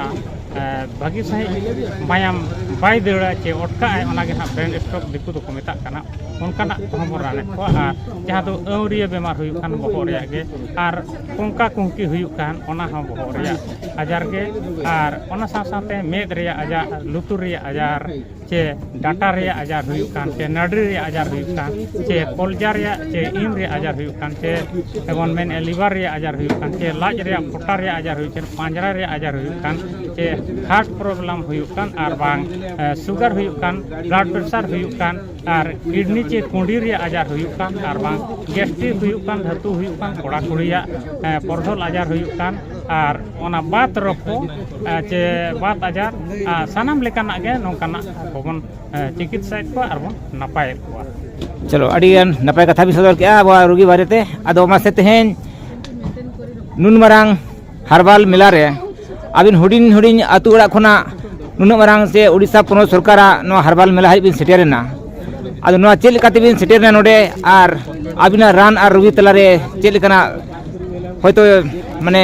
ᱵᱷᱟᱹᱜᱤ ᱥᱟᱺᱦᱤᱡ ᱢᱟᱭᱟᱢ ᱵᱟᱭ ᱫᱟᱹᱲᱟ ᱪᱮ ᱚᱴᱠᱟᱜ ᱟᱭ ᱚᱱᱟᱜᱮ ᱦᱟᱸᱜ ᱵᱨᱮᱱ ᱥᱴᱨᱳᱠ ᱫᱤᱠᱩ ᱫᱚᱠᱚ ᱢᱮᱛᱟᱜ ᱠᱟᱱᱟ ᱚᱱᱠᱟᱱᱟᱜ ᱠᱚᱦᱚᱸ ᱵᱚᱱ ᱨᱟᱱᱮᱫ ᱠᱚᱣᱟ ᱟᱨ ᱡᱟᱦᱟᱸ ᱫᱚ ᱟᱹᱣᱨᱤᱭᱟᱹ ᱵᱤᱢᱟᱨ ᱦᱩᱭᱩᱜ ᱠᱟᱱ ᱵᱚᱦᱚᱜ ᱨᱮᱭᱟᱜ ᱜᱮ ᱟᱨ ᱠᱚᱝᱠᱟ ᱠᱩᱝᱠᱤ ᱦᱩᱭᱩᱜ ᱠᱟᱱ ᱚᱱᱟ ᱦᱚᱸ ᱵᱚᱦᱚᱜ ᱨᱮᱭᱟᱜ ᱟᱡᱟᱨ ᱜᱮ ᱟᱨ ᱚᱱᱟ ᱥᱟᱶ ᱥᱟᱶᱛᱮ ᱢᱮᱫ ᱨᱮᱭᱟᱜ ᱟᱡᱟᱨ ᱞᱩᱛᱩᱨ ᱨᱮᱭᱟᱜ ᱟᱡᱟᱨ ᱪᱮ ᱰᱟᱴᱟ ᱨᱮᱭᱟᱜ ᱟᱡᱟᱨ ᱦᱩᱭᱩᱜ ᱠᱟᱱ ᱪᱮ ᱱᱟᱹᱰᱨᱤ ᱨᱮᱭᱟᱜ ᱟᱡᱟᱨ ᱦᱩᱭᱩᱜ ᱠᱟᱱ ᱪᱮ ᱠᱚᱞᱡᱟ ᱨᱮᱭᱟᱜ ᱪᱮ ᱤᱱ ᱨᱮᱭᱟᱜ ᱟᱡᱟᱨ ᱦᱩᱭᱩᱜ ᱠᱟᱱ ᱪᱮ ᱡᱮᱢᱚᱱ ᱢᱮᱱᱮᱫᱼᱟ ᱞᱤᱵᱷᱟᱨ ᱨᱮᱭᱟᱜ ᱟᱡᱟᱨ ᱦᱩᱭᱩᱜ ᱠᱟᱱ ᱪᱮ ᱞᱟᱡ ᱨᱮᱭᱟᱜ ᱯᱚᱴᱟ ᱨᱮᱭᱟᱜ ᱟᱡᱟᱨ ᱦᱩᱭᱩᱜ ᱠᱟᱱ ᱯᱟᱸᱡᱽᱨᱟ ᱨᱮᱭᱟᱜ ᱟᱡᱟᱨ ᱦᱩᱭᱩᱜ ᱠᱟᱱ ᱪᱮ ᱦᱟᱨᱴ ᱯᱨᱚᱵᱞᱮᱢ ᱦᱩᱭᱩᱜ ᱠᱟᱱ ᱟᱨ ᱵᱟᱝ ᱥᱩᱜᱟᱨ ᱦᱩᱭᱩᱜ ᱠᱟᱱ ᱵᱞᱟᱰ ᱯᱨᱮᱥᱟᱨ ᱦᱩᱭᱩᱜ ᱠᱟᱱ ᱟᱨ ᱠᱤᱰᱱᱤ ᱪᱮ ᱠᱩᱸᱰᱤ ᱨᱮᱭᱟᱜ ᱟᱡᱟᱨ ᱦᱩᱭᱩᱜ ᱠᱟᱱ ᱟᱨ ᱵᱟᱝ ᱜᱮᱥᱴᱨᱤᱠ ᱦᱩᱭᱩᱜ ᱠᱟᱱ ᱫᱷᱟᱹᱛᱩ ᱦᱩᱭᱩᱜ ᱠᱟᱱ ᱠᱚᱲᱟ ᱠᱩᱲᱤᱭᱟᱜ ᱯᱚᱨᱫᱚᱞ ᱟᱡᱟᱨ ᱦᱩᱭᱩᱜ ᱠᱟᱱ ᱟᱨ ᱚᱱᱟ ᱵᱟᱛ ᱨᱳᱜᱽ ᱠᱚ ᱪᱮ ᱵᱟᱛ ᱟᱡᱟᱨ ᱥᱟᱱᱟᱢ ᱞᱮᱠᱟᱱᱟᱜ ᱜᱮ ᱱᱚᱝᱠᱟᱱᱟᱜ ᱠᱚᱵᱚᱱ ᱪᱤᱠᱤᱛᱥᱟᱭᱮᱫ ᱠᱚᱣᱟ ᱟᱨ ᱵᱚᱱ ᱱᱟᱯᱟᱭᱮᱫ ᱠᱚᱣᱟ ᱪᱚᱞᱚ ᱟᱹᱰᱤ ᱜᱟᱱ ᱱᱟᱯᱟᱭ ᱠᱟᱛᱷᱟ ᱵᱤᱱ ᱥᱚᱫᱚᱨ ᱠᱮᱜᱼᱟ ᱟᱵᱚᱣᱟᱜ ᱨᱩᱜᱤ ᱵᱟᱨᱮᱛᱮ ᱟᱫᱚ ᱢᱟᱥᱮ ᱛᱮᱦᱮᱧ ᱱᱩᱱ ᱢᱟᱨᱟᱝ ᱦᱟᱨᱵᱟᱞ ᱢᱮᱞᱟ ᱨᱮ ᱟᱹᱵᱤᱱ ᱦᱩᱰᱤᱧ ᱦᱩᱰᱤᱧ ᱟᱹᱛᱩ ᱚᱲᱟᱜ ᱠᱷᱚᱱᱟᱜ ᱱᱩᱱᱟᱹᱜ ᱢᱟᱨᱟᱝ ᱥᱮ ᱩᱲᱤᱥᱥᱟ ᱯᱚᱱᱚᱛ ᱥᱚᱨᱠᱟᱨᱟᱜ ᱱᱚᱣᱟ ᱦᱟᱨᱵᱟᱞ ᱢᱮᱞᱟ ᱦᱟᱹᱵᱤᱡ ᱵᱤᱱ ᱥᱮᱴᱮᱨᱮᱱᱟ ᱟᱫᱚ ᱱᱚᱣᱟ ᱪᱮᱫ ᱞᱮᱠᱟ ᱛᱮᱵᱤᱱ ᱥᱮᱴᱮᱨᱮᱱᱟ ᱱᱚᱰᱮ ᱟᱨ ᱟᱹᱵᱤᱱᱟᱜ ᱨᱟᱱ ᱟᱨ ᱨᱩᱜᱤ ᱛᱟᱞᱟᱨᱮ ᱪᱮᱫ ᱞᱮᱠᱟᱱᱟᱜ ᱦᱚᱭᱛᱳ ᱢᱟᱱᱮ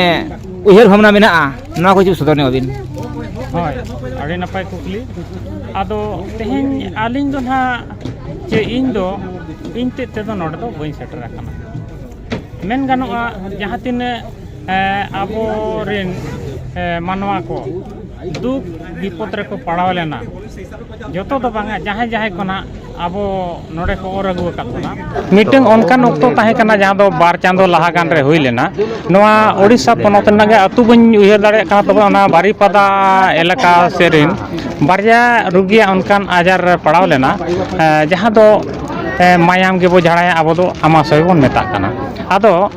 ᱩᱭᱦᱟᱹᱨ ᱵᱷᱟᱵᱽᱱᱟ ᱢᱮᱱᱟᱜᱼᱟ ᱱᱚᱣᱟ ᱠᱚ ᱡᱩᱫᱤ ᱥᱚᱫᱚᱨ ᱧᱚᱜ ᱟᱹᱵᱤᱱ ᱦᱳᱭ ᱟᱹᱰᱤ ᱱᱟᱯᱟᱭ ᱠᱩᱠᱞᱤ ᱟᱫᱚ ᱛᱮᱦᱮᱧ ᱟᱹᱞᱤᱧ ᱫᱚ ᱱᱟᱦᱟᱜ ᱪᱮ ᱤᱧ ᱫᱚ ᱤᱧ ᱛᱮᱫ ᱛᱮᱫᱚ ᱱᱚᱰᱮ ᱫᱚ ᱵᱟᱹᱧ ᱥᱮᱴᱮᱨ ᱟᱠᱟᱱᱟ ᱢᱮᱱ ᱜᱟᱱᱚᱜᱼᱟ ᱡᱟᱦᱟᱸ ᱛᱤᱱᱟᱹᱜ ᱟᱵᱚ ᱨᱮᱱ ᱢᱟᱱᱣᱟ ᱠᱚ ᱫᱩᱠ ᱵᱤᱯᱚᱫᱽ ᱨᱮᱠᱚ ᱯᱟᱲᱟᱣ ᱞᱮᱱᱟ ᱡᱚᱛᱚ ᱫᱚ ᱵᱟᱝᱟ ᱡᱟᱦᱟᱸᱭ ᱡᱟᱦᱟᱸᱭ ᱠᱚ ᱱᱟᱦᱟᱜ ᱟᱵᱚ ᱱᱚᱰᱮ ᱠᱚ ᱚᱨ ᱟᱹᱜᱩ ᱟᱠᱟᱫ ᱵᱚᱱᱟ ᱢᱤᱫᱴᱟᱝ ᱚᱱᱠᱟᱱ ᱚᱠᱛᱚ ᱛᱟᱦᱮᱸ ᱠᱟᱱᱟ ᱡᱟᱦᱟᱸ ᱫᱚ ᱵᱟᱨ ᱪᱟᱸᱫᱚ ᱞᱟᱦᱟ ᱜᱟᱱ ᱨᱮ ᱦᱩᱭ ᱞᱮᱱᱟ ᱱᱚᱣᱟ ᱳᱰᱤᱥᱟ ᱯᱚᱱᱚᱛ ᱨᱮᱱᱟᱜ ᱜᱮ ᱟᱹᱛᱩ ᱵᱟᱹᱧ ᱩᱭᱦᱟᱹᱨ ᱫᱟᱲᱮᱭᱟᱜ ᱠᱟᱱᱟ ᱛᱚᱵᱮ ᱚᱱᱟ ᱵᱟᱨᱤᱯᱟᱫᱟ ᱮᱞᱟᱠᱟ ᱥᱮᱫ ᱨᱮᱱ ᱵᱟᱨᱭᱟ ᱨᱩᱜᱤᱭᱟᱜ ᱚᱱᱠᱟᱱ ᱟᱡᱟᱨ ᱨᱮ ᱯᱟᱲᱟᱣ ᱞᱮᱱᱟ ᱡᱟᱦᱟᱸ ᱫᱚ ᱢᱟᱭᱟᱢ ᱜᱮᱵᱚᱱ ᱡᱷᱟᱲᱟᱭᱟ ᱟᱵᱚ ᱫᱚ ᱟᱢᱟᱥᱚᱭ ᱵᱚᱱ ᱢᱮᱛᱟᱜ ᱠᱟᱱᱟ ᱟᱫᱚ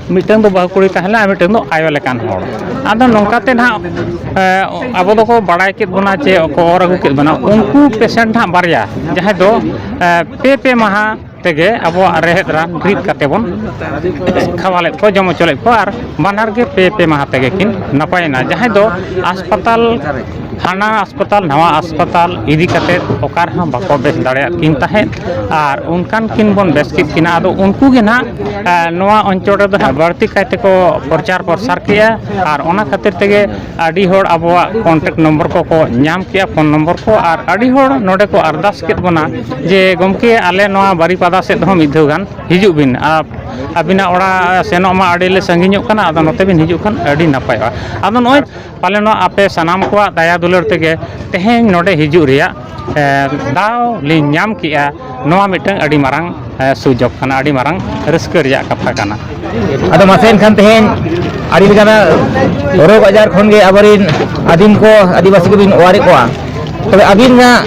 ᱢᱤᱫᱴᱟᱹᱝ ᱫᱚ ᱵᱟᱹᱦᱩ ᱠᱩᱲᱤ ᱛᱟᱦᱮᱸ ᱞᱮᱱᱟᱭ ᱟᱨ ᱢᱤᱫᱴᱟᱹᱝ ᱫᱚ ᱟᱭᱳ ᱞᱮᱠᱟᱱ ᱦᱚᱲ ᱟᱫᱚ ᱱᱚᱝᱠᱟ ᱛᱮ ᱱᱟᱦᱟᱜ ᱟᱵᱚ ᱫᱚᱠᱚ ᱵᱟᱲᱟᱭ ᱠᱮᱫ ᱵᱚᱱᱟ ᱡᱮ ᱠᱚ ᱚᱨ ᱟᱹᱜᱩ ᱠᱮᱫ ᱵᱚᱱᱟ ᱩᱱᱠᱩ ᱯᱮᱥᱮᱱᱴ ᱦᱟᱸᱜ ᱵᱟᱨᱭᱟ ᱡᱟᱦᱟᱸᱭ ᱫᱚ ᱯᱮ ᱯᱮ ᱢᱟᱦᱟ ᱛᱮᱜᱮ ᱟᱵᱚᱣᱟᱜ ᱨᱮᱦᱮᱫ ᱨᱟᱱ ᱨᱤᱫ ᱠᱟᱛᱮᱫ ᱵᱚᱱ ᱠᱷᱟᱣᱟᱞᱮᱫ ᱠᱚᱣᱟ ᱡᱚᱢ ᱦᱚᱪᱚ ᱞᱮᱫ ᱠᱚᱣᱟ ᱟᱨ ᱵᱟᱱᱟᱨ ᱜᱮ ᱯᱮ ᱯᱮ ᱢᱟᱦᱟ ᱛᱮᱜᱮ ᱠᱤᱱ ᱱᱟᱯᱟᱭᱮᱱᱟ ᱡᱟᱦᱟᱸᱭ ᱫᱚ ᱦᱟᱥᱯᱟᱛᱟᱞ ᱦᱟᱱᱟ ᱦᱟᱥᱯᱟᱛᱟᱞ ᱱᱟᱣᱟ ᱦᱟᱥᱯᱟᱛᱟᱞ ᱤᱫᱤ ᱠᱟᱛᱮᱫ ᱚᱠᱟ ᱨᱮᱦᱚᱸ ᱵᱟᱠᱚ ᱵᱮᱥ ᱫᱟᱲᱮᱭᱟᱜ ᱠᱤᱱ ᱛᱟᱦᱮᱸᱫ ᱟᱨ ᱚᱱᱠᱟᱱ ᱠᱤᱱ ᱵᱚᱱ ᱵᱮᱥ ᱠᱮᱫ ᱠᱤᱱᱟ ᱟᱫᱚ ᱩᱱᱠᱩ ᱜᱮ ᱱᱟᱦᱟᱜ ᱱᱚᱣᱟ ᱚᱧᱪᱚᱞ ᱨᱮᱫᱚ ᱱᱟᱦᱟᱜ ᱵᱟᱹᱲᱛᱤ ᱠᱟᱭ ᱛᱮᱠᱚ ᱯᱨᱚᱪᱟᱨ ᱯᱨᱚᱥᱟᱨ ᱠᱮᱫᱼᱟ ᱟᱨ ᱚᱱᱟ ᱠᱷᱟᱹᱛᱤᱨ ᱛᱮᱜᱮ ᱟᱹᱰᱤ ᱦᱚᱲ ᱟᱵᱚᱣᱟᱜ ᱠᱚᱱᱴᱮᱠᱴ ᱱᱚᱢᱵᱚᱨ ᱠᱚᱠᱚ ᱧᱟᱢ ᱠᱮᱫᱼᱟ ᱯᱷᱳᱱ ᱱᱚᱢᱵᱚᱨ ᱠᱚ ᱟᱨ ᱟᱹᱰᱤ ᱦᱚᱲ ᱱᱚᱰᱮ ᱠᱚ ᱟᱨᱫᱟᱥ ᱠᱮᱫ ᱵᱚᱱᱟ ᱡᱮ ᱜᱚᱢᱠᱮ ᱟᱞᱮ ᱱᱚᱣᱟ ᱵᱟᱨᱤᱯᱟᱫᱟ ᱥᱮᱫ ᱦᱚᱸ ᱢᱤᱫ ᱫᱷᱟᱣ ᱜᱟᱱ ᱦᱤᱡᱩᱜ ᱵᱤᱱ ᱟᱨ ᱟᱹᱵᱤᱱᱟᱜ ᱚᱲᱟᱜ ᱥᱮᱱᱚᱜ ᱢᱟ ᱟᱹᱰᱤ ᱞᱮ ᱥᱟᱺᱜᱤᱧᱚᱜ ᱠᱟᱱᱟ ᱟᱫᱚ ᱱᱚᱛᱮ ᱵᱤᱱ ᱦᱤᱡᱩᱜ ᱠᱷᱟᱱ ᱟᱹᱰᱤ ᱱᱟᱯᱟᱭᱚᱜᱼᱟ ᱟᱫᱚ ᱱᱚᱜᱼᱚᱭ ᱯᱟᱞᱮᱱᱚᱜ ᱟᱯᱮ ᱥᱟᱱᱟᱢ ᱠᱚᱣᱟᱜ ᱫᱟᱭᱟ ᱫᱩᱞᱟᱹᱲ ᱛᱮᱜᱮ ᱛᱮᱦᱮᱧ ᱱᱚᱰᱮ ᱦᱤᱡᱩᱜ ᱨᱮᱭᱟᱜ ᱫᱟᱣ ᱞᱤᱧ ᱧᱟᱢ ᱠᱮᱜᱼᱟ ᱱᱚᱣᱟ ᱢᱤᱫᱴᱟᱹᱝ ᱟᱹᱰᱤ ᱢᱟᱨᱟᱝ ᱥᱩᱡᱳᱜᱽ ᱠᱟᱱᱟ ᱟᱹᱰᱤ ᱢᱟᱨᱟᱝ ᱨᱟᱹᱥᱠᱟᱹ ᱨᱮᱭᱟᱜ ᱠᱟᱛᱷᱟ ᱠᱟᱱᱟ ᱟᱫᱚ ᱢᱟᱥᱮ ᱮᱱᱠᱷᱟᱱ ᱛᱮᱦᱮᱧ ᱟᱹᱰᱤ ᱞᱮᱠᱟᱱᱟᱜ ᱨᱳᱜᱽ ᱟᱡᱟᱨ ᱠᱷᱚᱱ ᱜᱮ ᱟᱵᱚ ᱨᱮᱱ ᱟᱹᱫᱤᱢ ᱠᱚ ᱟᱹᱫᱤᱵᱟᱹᱥᱤ ᱠᱚᱵᱤᱱ ᱚᱣᱟᱨᱮᱫ ᱠᱚᱣᱟ ᱛᱚᱵᱮ ᱟᱹᱵᱤᱱᱟᱜ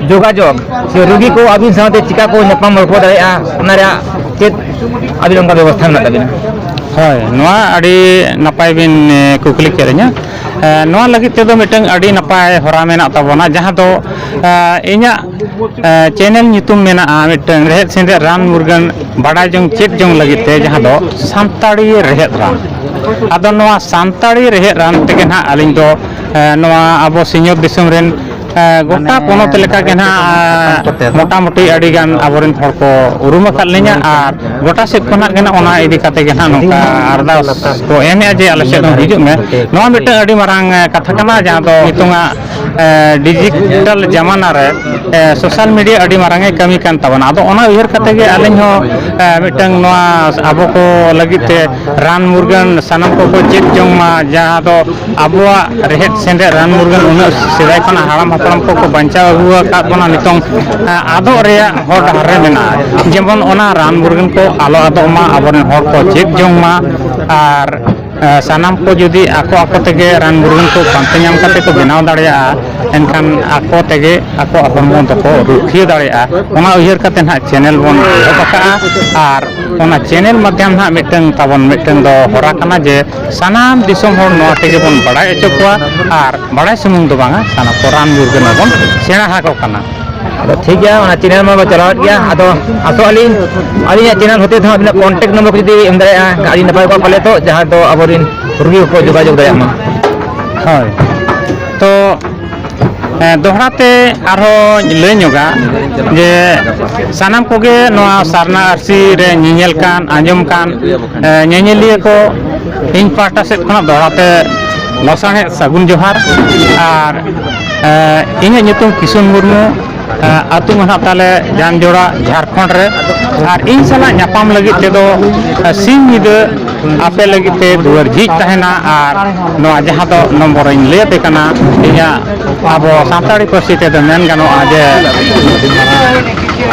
ᱡᱳᱜᱟᱡᱳᱜᱽ ᱥᱮ ᱨᱩᱜᱤ ᱠᱚ ᱟᱹᱵᱤᱱ ᱥᱟᱶᱛᱮ ᱪᱤᱠᱟ ᱠᱚ ᱧᱟᱯᱟᱢ ᱨᱚᱯᱚᱲ ᱫᱟᱲᱮᱭᱟᱜᱼᱟ ᱚᱱᱟ ᱨᱮᱭᱟᱜ ᱪᱮᱫ ᱟᱹᱵᱤᱱ ᱚᱱᱠᱟ ᱵᱮᱵᱚᱥᱛᱷᱟ ᱢᱮᱱᱟᱜ ᱛᱟᱹᱵᱤᱱᱟ ᱦᱳᱭ ᱱᱚᱣᱟ ᱟᱹᱰᱤ ᱱᱟᱯᱟᱭ ᱵᱤᱱ ᱠᱩᱠᱞᱤ ᱠᱮᱫ ᱞᱤᱧᱟ ᱱᱚᱣᱟ ᱞᱟᱹᱜᱤᱫ ᱛᱮᱫᱚ ᱢᱤᱫᱴᱟᱝ ᱟᱹᱰᱤ ᱱᱟᱯᱟᱭ ᱦᱚᱨᱟ ᱢᱮᱱᱟᱜ ᱛᱟᱵᱚᱱᱟ ᱡᱟᱦᱟᱸ ᱫᱚ ᱤᱧᱟᱹᱜ ᱪᱮᱱᱮᱞ ᱧᱩᱛᱩᱢ ᱢᱮᱱᱟᱜᱼᱟ ᱢᱤᱫᱴᱟᱝ ᱨᱮᱦᱮᱫ ᱥᱮᱸᱫᱮᱫ ᱨᱟᱱ ᱢᱩᱨᱜᱟᱹᱱ ᱵᱟᱰᱟᱭ ᱡᱚᱝ ᱪᱮᱫ ᱡᱚᱝ ᱞᱟᱹᱜᱤᱫ ᱛᱮ ᱡᱟᱦᱟᱸ ᱫᱚ ᱥᱟᱱᱛᱟᱲᱤ ᱨᱮᱦᱮᱫ ᱨᱟᱱ ᱟᱫᱚ ᱱᱚᱣᱟ ᱥᱟᱱᱛᱟᱲᱤ ᱨᱮᱦᱮᱫ ᱨᱟᱱ ᱛᱮᱜᱮ ᱱᱟᱦᱟᱜ ᱟᱹᱞᱤᱧ ᱫᱚ ᱮ, ᱱᱚᱣᱟ ᱟᱵᱚ ᱥᱤᱧᱚᱛ ᱫᱤᱥᱚᱢ ᱨᱮᱱ ᱮ, ᱜᱚᱴᱟ ᱢᱟᱱᱮ ᱯᱚᱱᱚᱛ ᱞᱮᱠᱟᱜᱮ ᱱᱟᱜ ᱥᱟᱱᱟᱢ ᱠᱚᱛᱮ ᱫᱚ ᱢᱚᱴᱟᱢᱩᱴᱤ ᱟᱹᱰᱤᱜᱟᱱ ᱟᱵᱚᱨᱮᱱ ᱦᱚᱲ ᱠᱚ ᱩᱨᱩᱢ ᱟᱠᱟᱫ ᱞᱤᱧᱟ ᱟᱨ ᱜᱚᱴᱟ ᱥᱮᱫ ᱠᱷᱚᱱᱟᱜ ᱜᱮ ᱱᱟᱜ ᱚᱱᱟ ᱤᱫᱤ ᱠᱟᱛᱮ ᱜᱮ ᱱᱟᱜ ᱱᱚᱝᱠᱟ ᱟᱨᱫᱟᱥ ᱠᱚ ᱮᱢᱮᱫᱼᱟ ᱡᱮ ᱟᱞᱮ ᱥᱮᱫ ᱦᱚᱸ ᱦᱤᱡᱩᱜ ᱢᱮ ᱱᱚᱣᱟ ᱢᱤᱫᱴᱟᱝ ᱟᱹᱰᱤ ᱢᱟᱨᱟᱝ ᱮ, ᱠᱟᱛᱷᱟ ᱠᱟᱱᱟ ᱡᱟᱦᱟᱸ ᱫᱚ ᱱᱤᱛᱚᱝᱟᱜ ᱮ, ᱰᱤᱡᱤᱴᱟᱞ ᱡᱟᱢᱟᱱᱟ ᱨᱮ ᱮ, ᱥᱳᱥᱟᱞ ᱢᱤᱰᱤᱭᱟ ᱟᱹᱰᱤ ᱢᱟᱨᱟᱝ ᱮ ᱠᱟᱹᱢᱤ ᱠᱟᱱ ᱛᱟᱵᱚᱱᱟ ᱟᱫᱚ ᱚᱱᱟ ᱩᱭᱦᱟᱹᱨ ᱠᱟᱛᱮ ᱜᱮ ᱟᱹᱞᱤᱧ ᱦᱚᱸ ᱮ, ᱢᱤᱫᱴᱟᱝ ᱱᱚᱣᱟ ᱟᱵᱚ ᱠᱚ ᱞᱟᱹᱜᱤᱫ ᱛᱮ ᱨᱟᱱ ᱢᱩᱨᱜᱟᱹᱱ ᱥᱟᱱᱟᱢ ᱠᱚᱠᱚ ᱪᱮᱫ ᱡᱚᱝ ᱢᱟ ᱡᱟᱦᱟᱸ ᱫᱚ ᱟᱵᱚᱣᱟᱜ ᱨᱮᱦᱮᱫ ᱥᱮᱸᱫᱮᱫ ᱨᱟᱱ ᱢᱩᱨᱜᱟᱹᱱ ᱩᱱᱟᱹᱜ ᱥᱮᱫᱟᱭ ᱠᱷᱚᱱᱟᱜ ᱦᱟᱲᱟᱢ ᱦᱟᱯᱲᱟᱢ ᱠᱚᱠᱚ ᱵᱟᱧᱪᱟᱣ ᱟᱹᱜᱩ ᱟᱠᱟᱫ ᱵᱚᱱᱟ ᱱᱤᱛᱚᱝ ᱟᱫᱚᱜ ᱨᱮᱭᱟᱜ ᱦᱚᱨ ᱰᱟᱦᱟᱨ ᱨᱮ ᱢᱮᱱᱟᱜᱼᱟ ᱡᱮᱢᱚᱱ ᱚᱱᱟ ᱨᱟᱱ ᱢᱩᱨᱜᱟᱹᱱ ᱠᱚ ᱟᱞᱚ ᱟᱫᱚᱜ ᱢᱟ ᱟᱵᱚ ᱨᱮᱱ ᱦᱚᱲ ᱠᱚ ᱪᱮᱫ ᱡᱚᱝ ᱢᱟ ᱟᱨ ᱥᱟᱱᱟᱢ ᱠᱚ ᱡᱩᱫᱤ ᱟᱠᱚ ᱟᱠᱚ ᱛᱮᱜᱮ ᱨᱟᱱ ᱢᱩᱨᱜᱟᱹᱱ ᱠᱚ ᱯᱟᱱᱛᱮ ᱧᱟᱢ ᱠᱟᱛᱮᱫ ᱠᱚ ᱵᱮᱱᱟᱣ ᱫᱟᱲᱮᱭᱟᱜᱼᱟ ᱮᱱᱠᱷᱟᱱ ᱟᱠᱚ ᱛᱮᱜᱮ ᱟᱠᱚᱣᱟᱜ ᱦᱚᱲᱢᱚ ᱫᱚᱠᱚ ᱨᱩᱠᱷᱤᱭᱟᱹ ᱫᱟᱲᱮᱭᱟᱜᱼᱟ ᱚᱱᱟ ᱩᱭᱦᱟᱹᱨ ᱠᱟᱛᱮᱫ ᱦᱟᱸᱜ ᱪᱮᱱᱮᱞ ᱵᱚᱱ ᱮᱦᱚᱵ ᱟᱠᱟᱫᱼᱟ ᱟᱨ ᱚᱱᱟ ᱪᱮᱱᱮᱞ ᱢᱟᱫᱽᱫᱷᱚᱢ ᱦᱟᱸᱜ ᱢᱤᱫᱴᱟᱝ ᱛᱟᱵᱚᱱ ᱢᱤᱫᱴᱟᱝ ᱫᱚ ᱦᱚᱨᱟ ᱠᱟᱱᱟ ᱡᱮ ᱥᱟᱱᱟᱢ ᱫᱤᱥᱚᱢ ᱦᱚᱲ ᱱᱚᱣᱟ ᱛᱮᱜᱮ ᱵᱚᱱ ᱵᱟᱲᱟᱭ ᱦᱚᱪᱚ ᱠᱚᱣᱟ ᱟᱨ ᱵᱟᱲᱟᱭ ᱥᱩᱢᱩᱝ ᱫᱚ ᱵᱟᱝᱟ ᱥᱟᱱᱟᱢ ᱠᱚ ᱨᱟᱱ ᱢᱩᱨᱜᱟᱹᱱ ᱦᱚᱸᱵᱚᱱ ᱥᱮᱬᱟ ᱟᱠᱚ ᱠᱟᱱᱟ ᱟᱫᱚ ᱴᱷᱤᱠ ᱜᱮᱭᱟ ᱚᱱᱟ ᱪᱮᱱᱮᱞ ᱢᱟᱵᱚ ᱪᱟᱞᱟᱣᱮᱫ ᱜᱮᱭᱟ ᱟᱫᱚ ᱟᱥᱚᱜ ᱟᱹᱞᱤᱧ ᱟᱹᱞᱤᱧᱟᱜ ᱪᱮᱱᱮᱞ ᱦᱚᱛᱮ ᱛᱮᱦᱚᱸ ᱟᱹᱵᱤᱱᱟᱜ ᱠᱚᱱᱴᱮᱠᱴ ᱱᱚᱢᱵᱚᱨ ᱠᱚ ᱡᱩᱫᱤ ᱮᱢ ᱫᱟᱲᱮᱭᱟᱜᱼᱟ ᱟᱹᱰᱤ ᱱᱟᱯᱟᱭ ᱠᱚᱜᱼᱟ ᱯᱟᱞᱮ ᱛᱚ ᱡᱟᱦᱟᱸ ᱫᱚ ᱟᱵᱚᱨᱮᱱ ᱨᱩᱜᱤ ᱠᱚᱠᱚ ᱡᱳᱜᱟᱡᱳᱜᱽ ᱫᱟᱲᱮᱭᱟᱜ ᱢᱟ ᱦᱳᱭ ᱛᱚ ᱮᱸ, ᱫᱚᱦᱲᱟ ᱛᱮ ᱟᱨᱦᱚᱸ ᱞᱟᱹᱭ ᱧᱚᱜᱟ ᱡᱮ ᱥᱟᱱᱟᱢ ᱠᱚᱜᱮ ᱱᱚᱣᱟ ᱥᱟᱨᱱᱟ ᱟᱹᱨᱥᱤ ᱨᱮ ᱧᱮᱧᱮᱞ ᱠᱟᱱ ᱟᱸᱡᱚᱢ ᱠᱟᱱ ᱮᱸ, ᱧᱮᱧᱮᱞᱤᱭᱟᱹ ᱠᱚ ᱤᱧ ᱯᱟᱦᱴᱟ ᱥᱮᱫ ᱠᱷᱚᱱᱟᱜ ᱫᱚᱦᱲᱟ ᱛᱮ ᱞᱟᱥᱟᱬᱦᱮᱫ ᱥᱟᱹᱜᱩᱱ ᱡᱚᱦᱟᱨ ᱟᱨ ᱮᱸ, ᱤᱧᱟᱹᱜ ᱧᱩᱛᱩᱢ ᱠᱤᱥᱩᱱ ᱢᱩᱨᱢᱩ ᱟᱹᱛᱩ ᱢᱟ ᱱᱟᱦᱟᱜ ᱛᱟᱞᱮ ᱡᱟᱱ ᱡᱚᱲᱟ ᱡᱷᱟᱲᱠᱷᱚᱸᱰ ᱨᱮ ᱟᱨ ᱤᱧ ᱥᱟᱞᱟᱜ ᱧᱟᱯᱟᱢ ᱞᱟᱹᱜᱤᱫ ᱛᱮᱫᱚ ᱥᱤᱧ ᱧᱤᱫᱟᱹ ᱟᱯᱮ ᱞᱟᱹᱜᱤᱫ ᱛᱮ ᱫᱩᱣᱟᱹᱨ ᱡᱷᱤᱡ ᱛᱟᱦᱮᱱᱟ ᱟᱨ ᱱᱚᱣᱟ ᱡᱟᱦᱟᱸ ᱫᱚ ᱱᱚᱢᱵᱚᱨ ᱤᱧ ᱞᱟᱹᱭ ᱟᱯᱮ ᱠᱟᱱᱟ ᱤᱧᱟᱹᱜ ᱟᱵᱚ ᱥᱟᱱᱛᱟᱲᱤ ᱯᱟᱹᱨᱥᱤ ᱛᱮᱫᱚ ᱢᱮᱱ ᱜᱟᱱᱚᱜᱼᱟ ᱡᱮ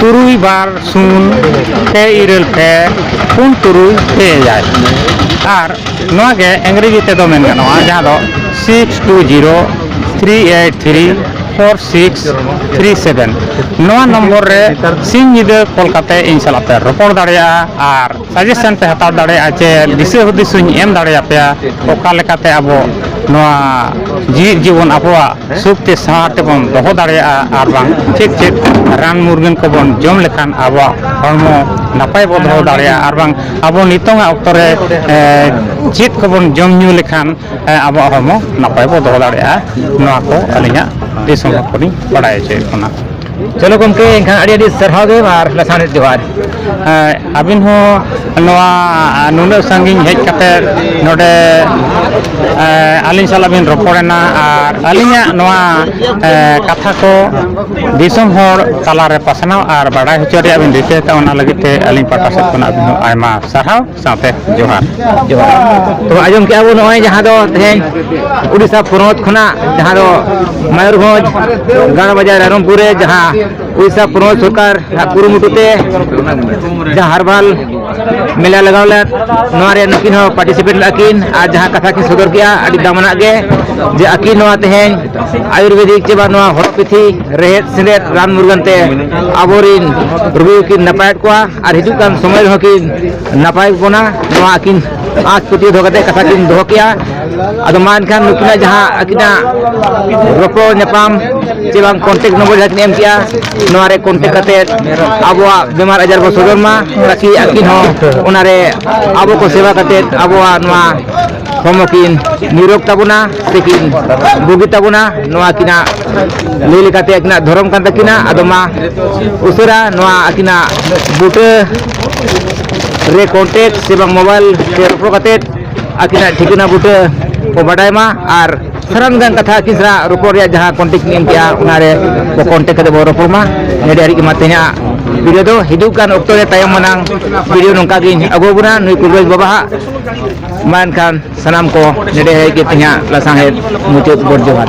ᱛᱩᱨᱩᱭ ᱵᱟᱨ ᱥᱩᱱ ᱯᱮ ᱤᱨᱟᱹᱞ ᱯᱮ ᱯᱩᱱ ᱛᱩᱨᱩᱭ ᱯᱮ ᱮᱭᱟᱭ ᱟᱨ ᱱᱚᱣᱟ ᱜᱮ ᱤᱝᱨᱮᱡᱤ ᱛᱮᱫᱚ ᱢᱮᱱ ᱜᱟᱱᱚᱜᱼᱟ ᱡᱟᱦᱟᱸ ᱫᱚ six two zero three eight three four six three seven ᱱᱚᱣᱟ ᱱᱚᱢᱵᱚᱨ ᱨᱮ ᱥᱤᱧ ᱧᱤᱫᱟᱹ ᱠᱚᱞ ᱠᱟᱛᱮ ᱤᱧ ᱥᱟᱞᱟᱜ ᱯᱮ ᱨᱚᱯᱚᱲ ᱫᱟᱲᱮᱭᱟᱜᱼᱟ ᱟᱨ ᱥᱟᱡᱮᱥᱚᱱ ᱯᱮ ᱦᱟᱛᱟᱣ ᱫᱟᱲᱮᱭᱟᱜᱼᱟ ᱪᱮ ᱫᱤᱥᱟᱹ ᱦᱩᱫᱤᱥ ᱦᱚᱧ ᱮᱢ ᱫᱟᱲᱮᱭᱟᱯᱮᱭᱟ ᱚᱠᱟ ᱞᱮᱠᱟᱛᱮ ᱟᱵᱚ ᱱᱚᱣᱟ ᱡᱮᱣᱮᱫ ᱡᱤᱵᱚᱱ ᱟᱵᱚᱣᱟᱜ ᱥᱩᱠ ᱛᱮ ᱥᱟᱶᱟᱨ ᱛᱮᱵᱚᱱ ᱫᱚᱦᱚ ᱫᱟᱲᱮᱭᱟᱜᱼᱟ ᱟᱨ ᱵᱟᱝ ᱪᱮᱫ ᱪᱮᱫ ᱨᱟᱱ ᱢᱩᱨᱜᱟᱹᱱ ᱠᱚᱵᱚᱱ ᱡᱚᱢ ᱞᱮᱠᱷᱟᱱ ᱟᱵᱚᱣᱟᱜ ᱦᱚᱲᱢᱚ ᱱᱟᱯᱟᱭ ᱵᱚᱱ ᱫᱚᱦᱚ ᱫᱟᱲᱮᱭᱟᱜᱼᱟ ᱟᱨ ᱵᱟᱝ ᱟᱵᱚ ᱱᱤᱛᱚᱝ ᱟᱜ ᱚᱠᱛᱚ ᱨᱮ ᱪᱮᱫ ᱠᱚᱵᱚᱱ ᱡᱚᱢ ᱧᱩ ᱞᱮᱠᱷᱟᱱ ᱟᱵᱚᱣᱟᱜ ᱦᱚᱲᱢᱚ ᱱᱟᱯᱟᱭ ᱵᱚ ᱫᱚᱦᱚ ᱫᱟᱲᱮᱭᱟᱜᱼᱟ ᱱᱚᱣᱟ ᱠᱚ ᱟᱹᱞᱤᱧᱟᱜ ᱫᱤᱥ ᱦᱩᱫᱤᱥ ᱠᱚᱞᱤᱧ ᱵᱟᱲᱟᱭ ᱦᱚᱪᱚᱭᱮᱫ ᱵᱚᱱᱟ ᱪᱚᱞᱚ ᱜᱚᱢᱠᱮ ᱮᱱᱠᱷᱟᱱ ᱟᱹᱰᱤ ᱟᱹᱰᱤ ᱥᱟᱨᱦᱟᱣ ᱜᱮ ᱟᱨ ᱞᱟᱥᱟᱱᱮᱫ ᱡᱚᱦᱟᱨ ᱟᱹᱵᱤᱱ ᱦᱚᱸ ᱱᱚᱣᱟ ᱱᱩᱱᱟᱹᱜ ᱥᱟᱺᱜᱤᱧ ᱦᱮᱡ ᱠᱟᱛᱮ ᱱᱚᱰᱮ ᱟᱹᱞᱤᱧ ᱥᱟᱞᱟᱜ ᱵᱤᱱ ᱨᱚᱯᱚᱲᱮᱱᱟ ᱟᱨ ᱟᱹᱞᱤᱧᱟᱜ ᱱᱚᱣᱟ ᱠᱟᱛᱷᱟ ᱠᱚ ᱫᱤᱥᱚᱢ ᱦᱚᱲ ᱛᱟᱞᱟᱨᱮ ᱯᱟᱥᱱᱟᱣ ᱟᱨ ᱵᱟᱰᱟᱭ ᱦᱚᱪᱚ ᱨᱮᱭᱟᱜ ᱵᱤᱱ ᱨᱤᱠᱟᱹ ᱟᱠᱟᱫᱼᱟ ᱚᱱᱟ ᱞᱟᱹᱜᱤᱫ ᱛᱮ ᱟᱹᱞᱤᱧ ᱯᱟᱦᱴᱟ ᱥᱮᱫ ᱠᱷᱚᱱᱟᱜ ᱟᱹᱵᱤᱱ ᱦᱚᱸ ᱟᱭᱢᱟ ᱥᱟᱨᱦᱟᱣ ᱥᱟᱶᱛᱮ ᱡᱚᱦᱟᱨ ᱡᱚᱦᱟᱨ ᱛᱚ ᱟᱸᱡᱚᱢ ᱠᱮᱜᱼᱟ ᱵᱚᱱ ᱱᱚᱜᱼᱚᱭ ᱡᱟᱦᱟᱸ ᱫᱚ ᱛᱮᱦᱮᱧ ᱩᱲᱤᱥᱥᱟ ᱯᱚᱱᱚᱛ ᱠᱷᱚᱱᱟᱜ ᱡᱟᱦᱟᱸ ᱫᱚ ᱢᱚᱭᱩᱨᱵᱷᱚᱸᱡᱽ ᱜᱟᱲ ᱵᱟᱡᱟᱨ ᱨᱟᱭᱨᱚᱝᱯᱩᱨ ᱨᱮ ᱡᱟᱦᱟᱸ ᱩᱲᱤᱥᱥᱟ ᱯᱚᱱᱚᱛ ᱥᱚᱨᱠᱟᱨ ᱠᱩᱨᱩᱢᱩᱴᱩ ᱛᱮ ᱡᱟᱦᱟᱸ ᱦᱟᱨᱵᱟᱞ ᱢᱮᱞᱟ ᱞᱟᱜᱟᱣ ᱞᱮᱫ ᱱᱚᱣᱟ ᱨᱮ ᱱᱩᱠᱤᱱ ᱦᱚᱸ ᱯᱟᱨᱴᱤᱥᱤᱯᱮᱴ ᱞᱮᱫᱟ ᱠᱤᱱ ᱟᱨ ᱡᱟᱦᱟᱸ ᱠᱟᱛᱷᱟ ᱠᱤᱱ ᱥᱚᱫᱚᱨ ᱠᱮᱜᱼᱟ ᱟᱹᱰᱤ ᱫᱟᱢᱟᱱᱟᱜ ᱜᱮ ᱡᱮ ᱟᱹᱠᱤᱱ ᱱᱚᱣᱟ ᱛᱮᱦᱮᱧ ᱟᱭᱩᱨᱵᱮᱫᱤᱠ ᱪᱮ ᱵᱟᱝ ᱱᱚᱣᱟ ᱦᱚᱨᱚᱯᱤᱛᱷᱤ ᱨᱮᱦᱮᱫ ᱥᱮᱸᱫᱮᱫ ᱨᱟᱱ ᱢᱩᱨᱜᱟᱹᱱ ᱛᱮ ᱟᱵᱚᱨᱤᱱ ᱨᱩᱜᱤ ᱠᱤᱱ ᱱᱟᱯᱟᱭᱮᱫ ᱠᱚᱣᱟ ᱟᱨ ᱦᱤᱡᱩᱜ ᱠᱟᱱ ᱥᱚᱢᱚᱭ ᱨᱮᱦᱚᱸ ᱠᱤᱱ ᱱᱟᱯᱟᱭ ᱵᱚᱱᱟ ᱱᱚᱣᱟ ᱟᱹᱠᱤᱱ ᱟᱸᱥ ᱯᱟᱹᱛᱭᱟᱹᱣ ᱫᱚᱦᱚ ᱠᱟᱛᱮ ᱠᱟᱛᱷᱟ ᱠᱤᱱ ᱫᱚᱦᱚ ᱠᱮᱜᱼᱟ ᱟᱫᱚ ᱢᱟ ᱮᱱᱠᱷᱟᱱ ᱱᱩᱠᱤᱱᱟᱜ ᱡᱟᱦᱟᱸ ᱟᱹᱠᱤᱱᱟᱜ ᱨᱚᱯᱚᱲ ᱧᱟᱯᱟᱢ ᱪᱮ ᱵᱟᱝ ᱠᱚᱱᱴᱮᱠ ᱱᱚᱢᱵᱚᱨ ᱡᱟᱦᱟᱸ ᱠᱤᱱ ᱮᱢ ᱠᱮᱜᱼᱟ ᱱᱚᱣᱟ ᱨᱮ ᱠᱚᱱᱴᱮᱠ ᱠᱟᱛᱮ ᱟᱵᱚᱣᱟᱜ ᱵᱮᱢᱟᱨ ᱟᱡᱟᱨ ᱵᱚ ᱥᱚᱫᱚᱨ ᱢᱟ ᱛᱟᱠᱤ ᱟᱹᱠᱤᱱ ᱦᱚᱸ ᱚᱱᱟᱨᱮ ᱟᱵᱚ ᱠᱚ ᱥᱮᱵᱟ ᱠᱟᱛᱮ ᱟᱵᱚᱣᱟᱜ ᱱᱚᱣᱟ ᱦᱚᱲᱢᱚ ᱠᱤᱱ ᱱᱤᱨᱚᱜᱽ ᱛᱟᱵᱚᱱᱟ ᱥᱮᱠᱤᱱ ᱵᱩᱜᱤ ᱛᱟᱵᱚᱱᱟ ᱱᱚᱣᱟ ᱟᱹᱠᱤᱱᱟᱜ ᱞᱟᱹᱭ ᱞᱮᱠᱟᱛᱮ ᱟᱹᱠᱤᱱᱟᱜ ᱫᱷᱚᱨᱚᱢ ᱠᱟᱱ ᱛᱟᱹᱠᱤᱱᱟ ᱟᱫᱚ ᱢᱟ ᱩᱥᱟᱹᱨᱟ ᱱᱚᱣᱟ ᱟᱹᱠᱤᱱᱟᱜ ᱵᱩᱴᱟᱹ ᱨᱮ ᱠᱚᱱᱴᱮᱠᱴ ᱥᱮ ᱵᱟᱝ ᱢᱳᱵᱟᱭᱤᱞ ᱛᱮ ᱨᱚᱯᱚᱲ ᱠᱟᱛᱮ ᱟᱹᱠᱤᱱᱟᱜ ᱴᱷᱤᱠᱟᱹᱱᱟ ᱵᱩᱴᱟᱹ ᱠᱚ ᱵᱟᱰᱟᱭ ᱢᱟ ᱟᱨ ᱥᱟᱱᱟᱢ ᱜᱟᱱ ᱠᱟᱛᱷᱟ ᱟᱹᱠᱤᱱ ᱥᱟᱞᱟᱜ ᱨᱚᱯᱚᱲ ᱨᱮᱭᱟᱜ ᱡᱟᱦᱟᱸ ᱠᱚᱱᱴᱮᱠᱴ ᱮᱢ ᱠᱮᱜᱼᱟ ᱚᱱᱟᱨᱮ ᱵᱚ ᱠᱚᱱᱴᱮᱠᱴ ᱠᱟᱛᱮ ᱵᱚ ᱨᱚᱯᱚᱲ ᱢᱟ ᱱᱚᱰᱮ ᱦᱟᱹᱨᱤᱡ ᱢᱟ ᱛᱮᱦᱮᱧᱟᱜ ᱵᱷᱤᱰᱤᱭᱳ ᱫᱚ ᱦᱤᱡᱩᱜ ᱠᱟᱱ ᱚᱠᱛᱚ ᱨᱮ ᱛᱟᱭᱚᱢ ᱢᱟᱱᱟᱝ ᱵᱷᱤᱰᱤᱭᱳ ᱱᱚᱝᱠᱟ ᱜᱤᱧ ᱟᱹᱜᱩ ᱟᱵᱚᱱᱟ ᱱᱩᱭ ᱠᱩᱵᱨᱟᱡᱽ ᱵᱟᱵᱟᱣᱟᱜ ᱢᱟ ᱮᱱᱠᱷᱟᱱ ᱥᱟᱱᱟᱢ ᱠᱚ ᱱᱮᱰᱮ ᱦᱮᱡ ᱠᱟᱛᱮᱫ ᱦᱟᱸᱜ ᱞᱟᱥᱟᱲᱦᱮᱫ ᱢᱩᱪᱟᱹᱫ ᱜᱚᱰ ᱡᱚᱦᱟᱨ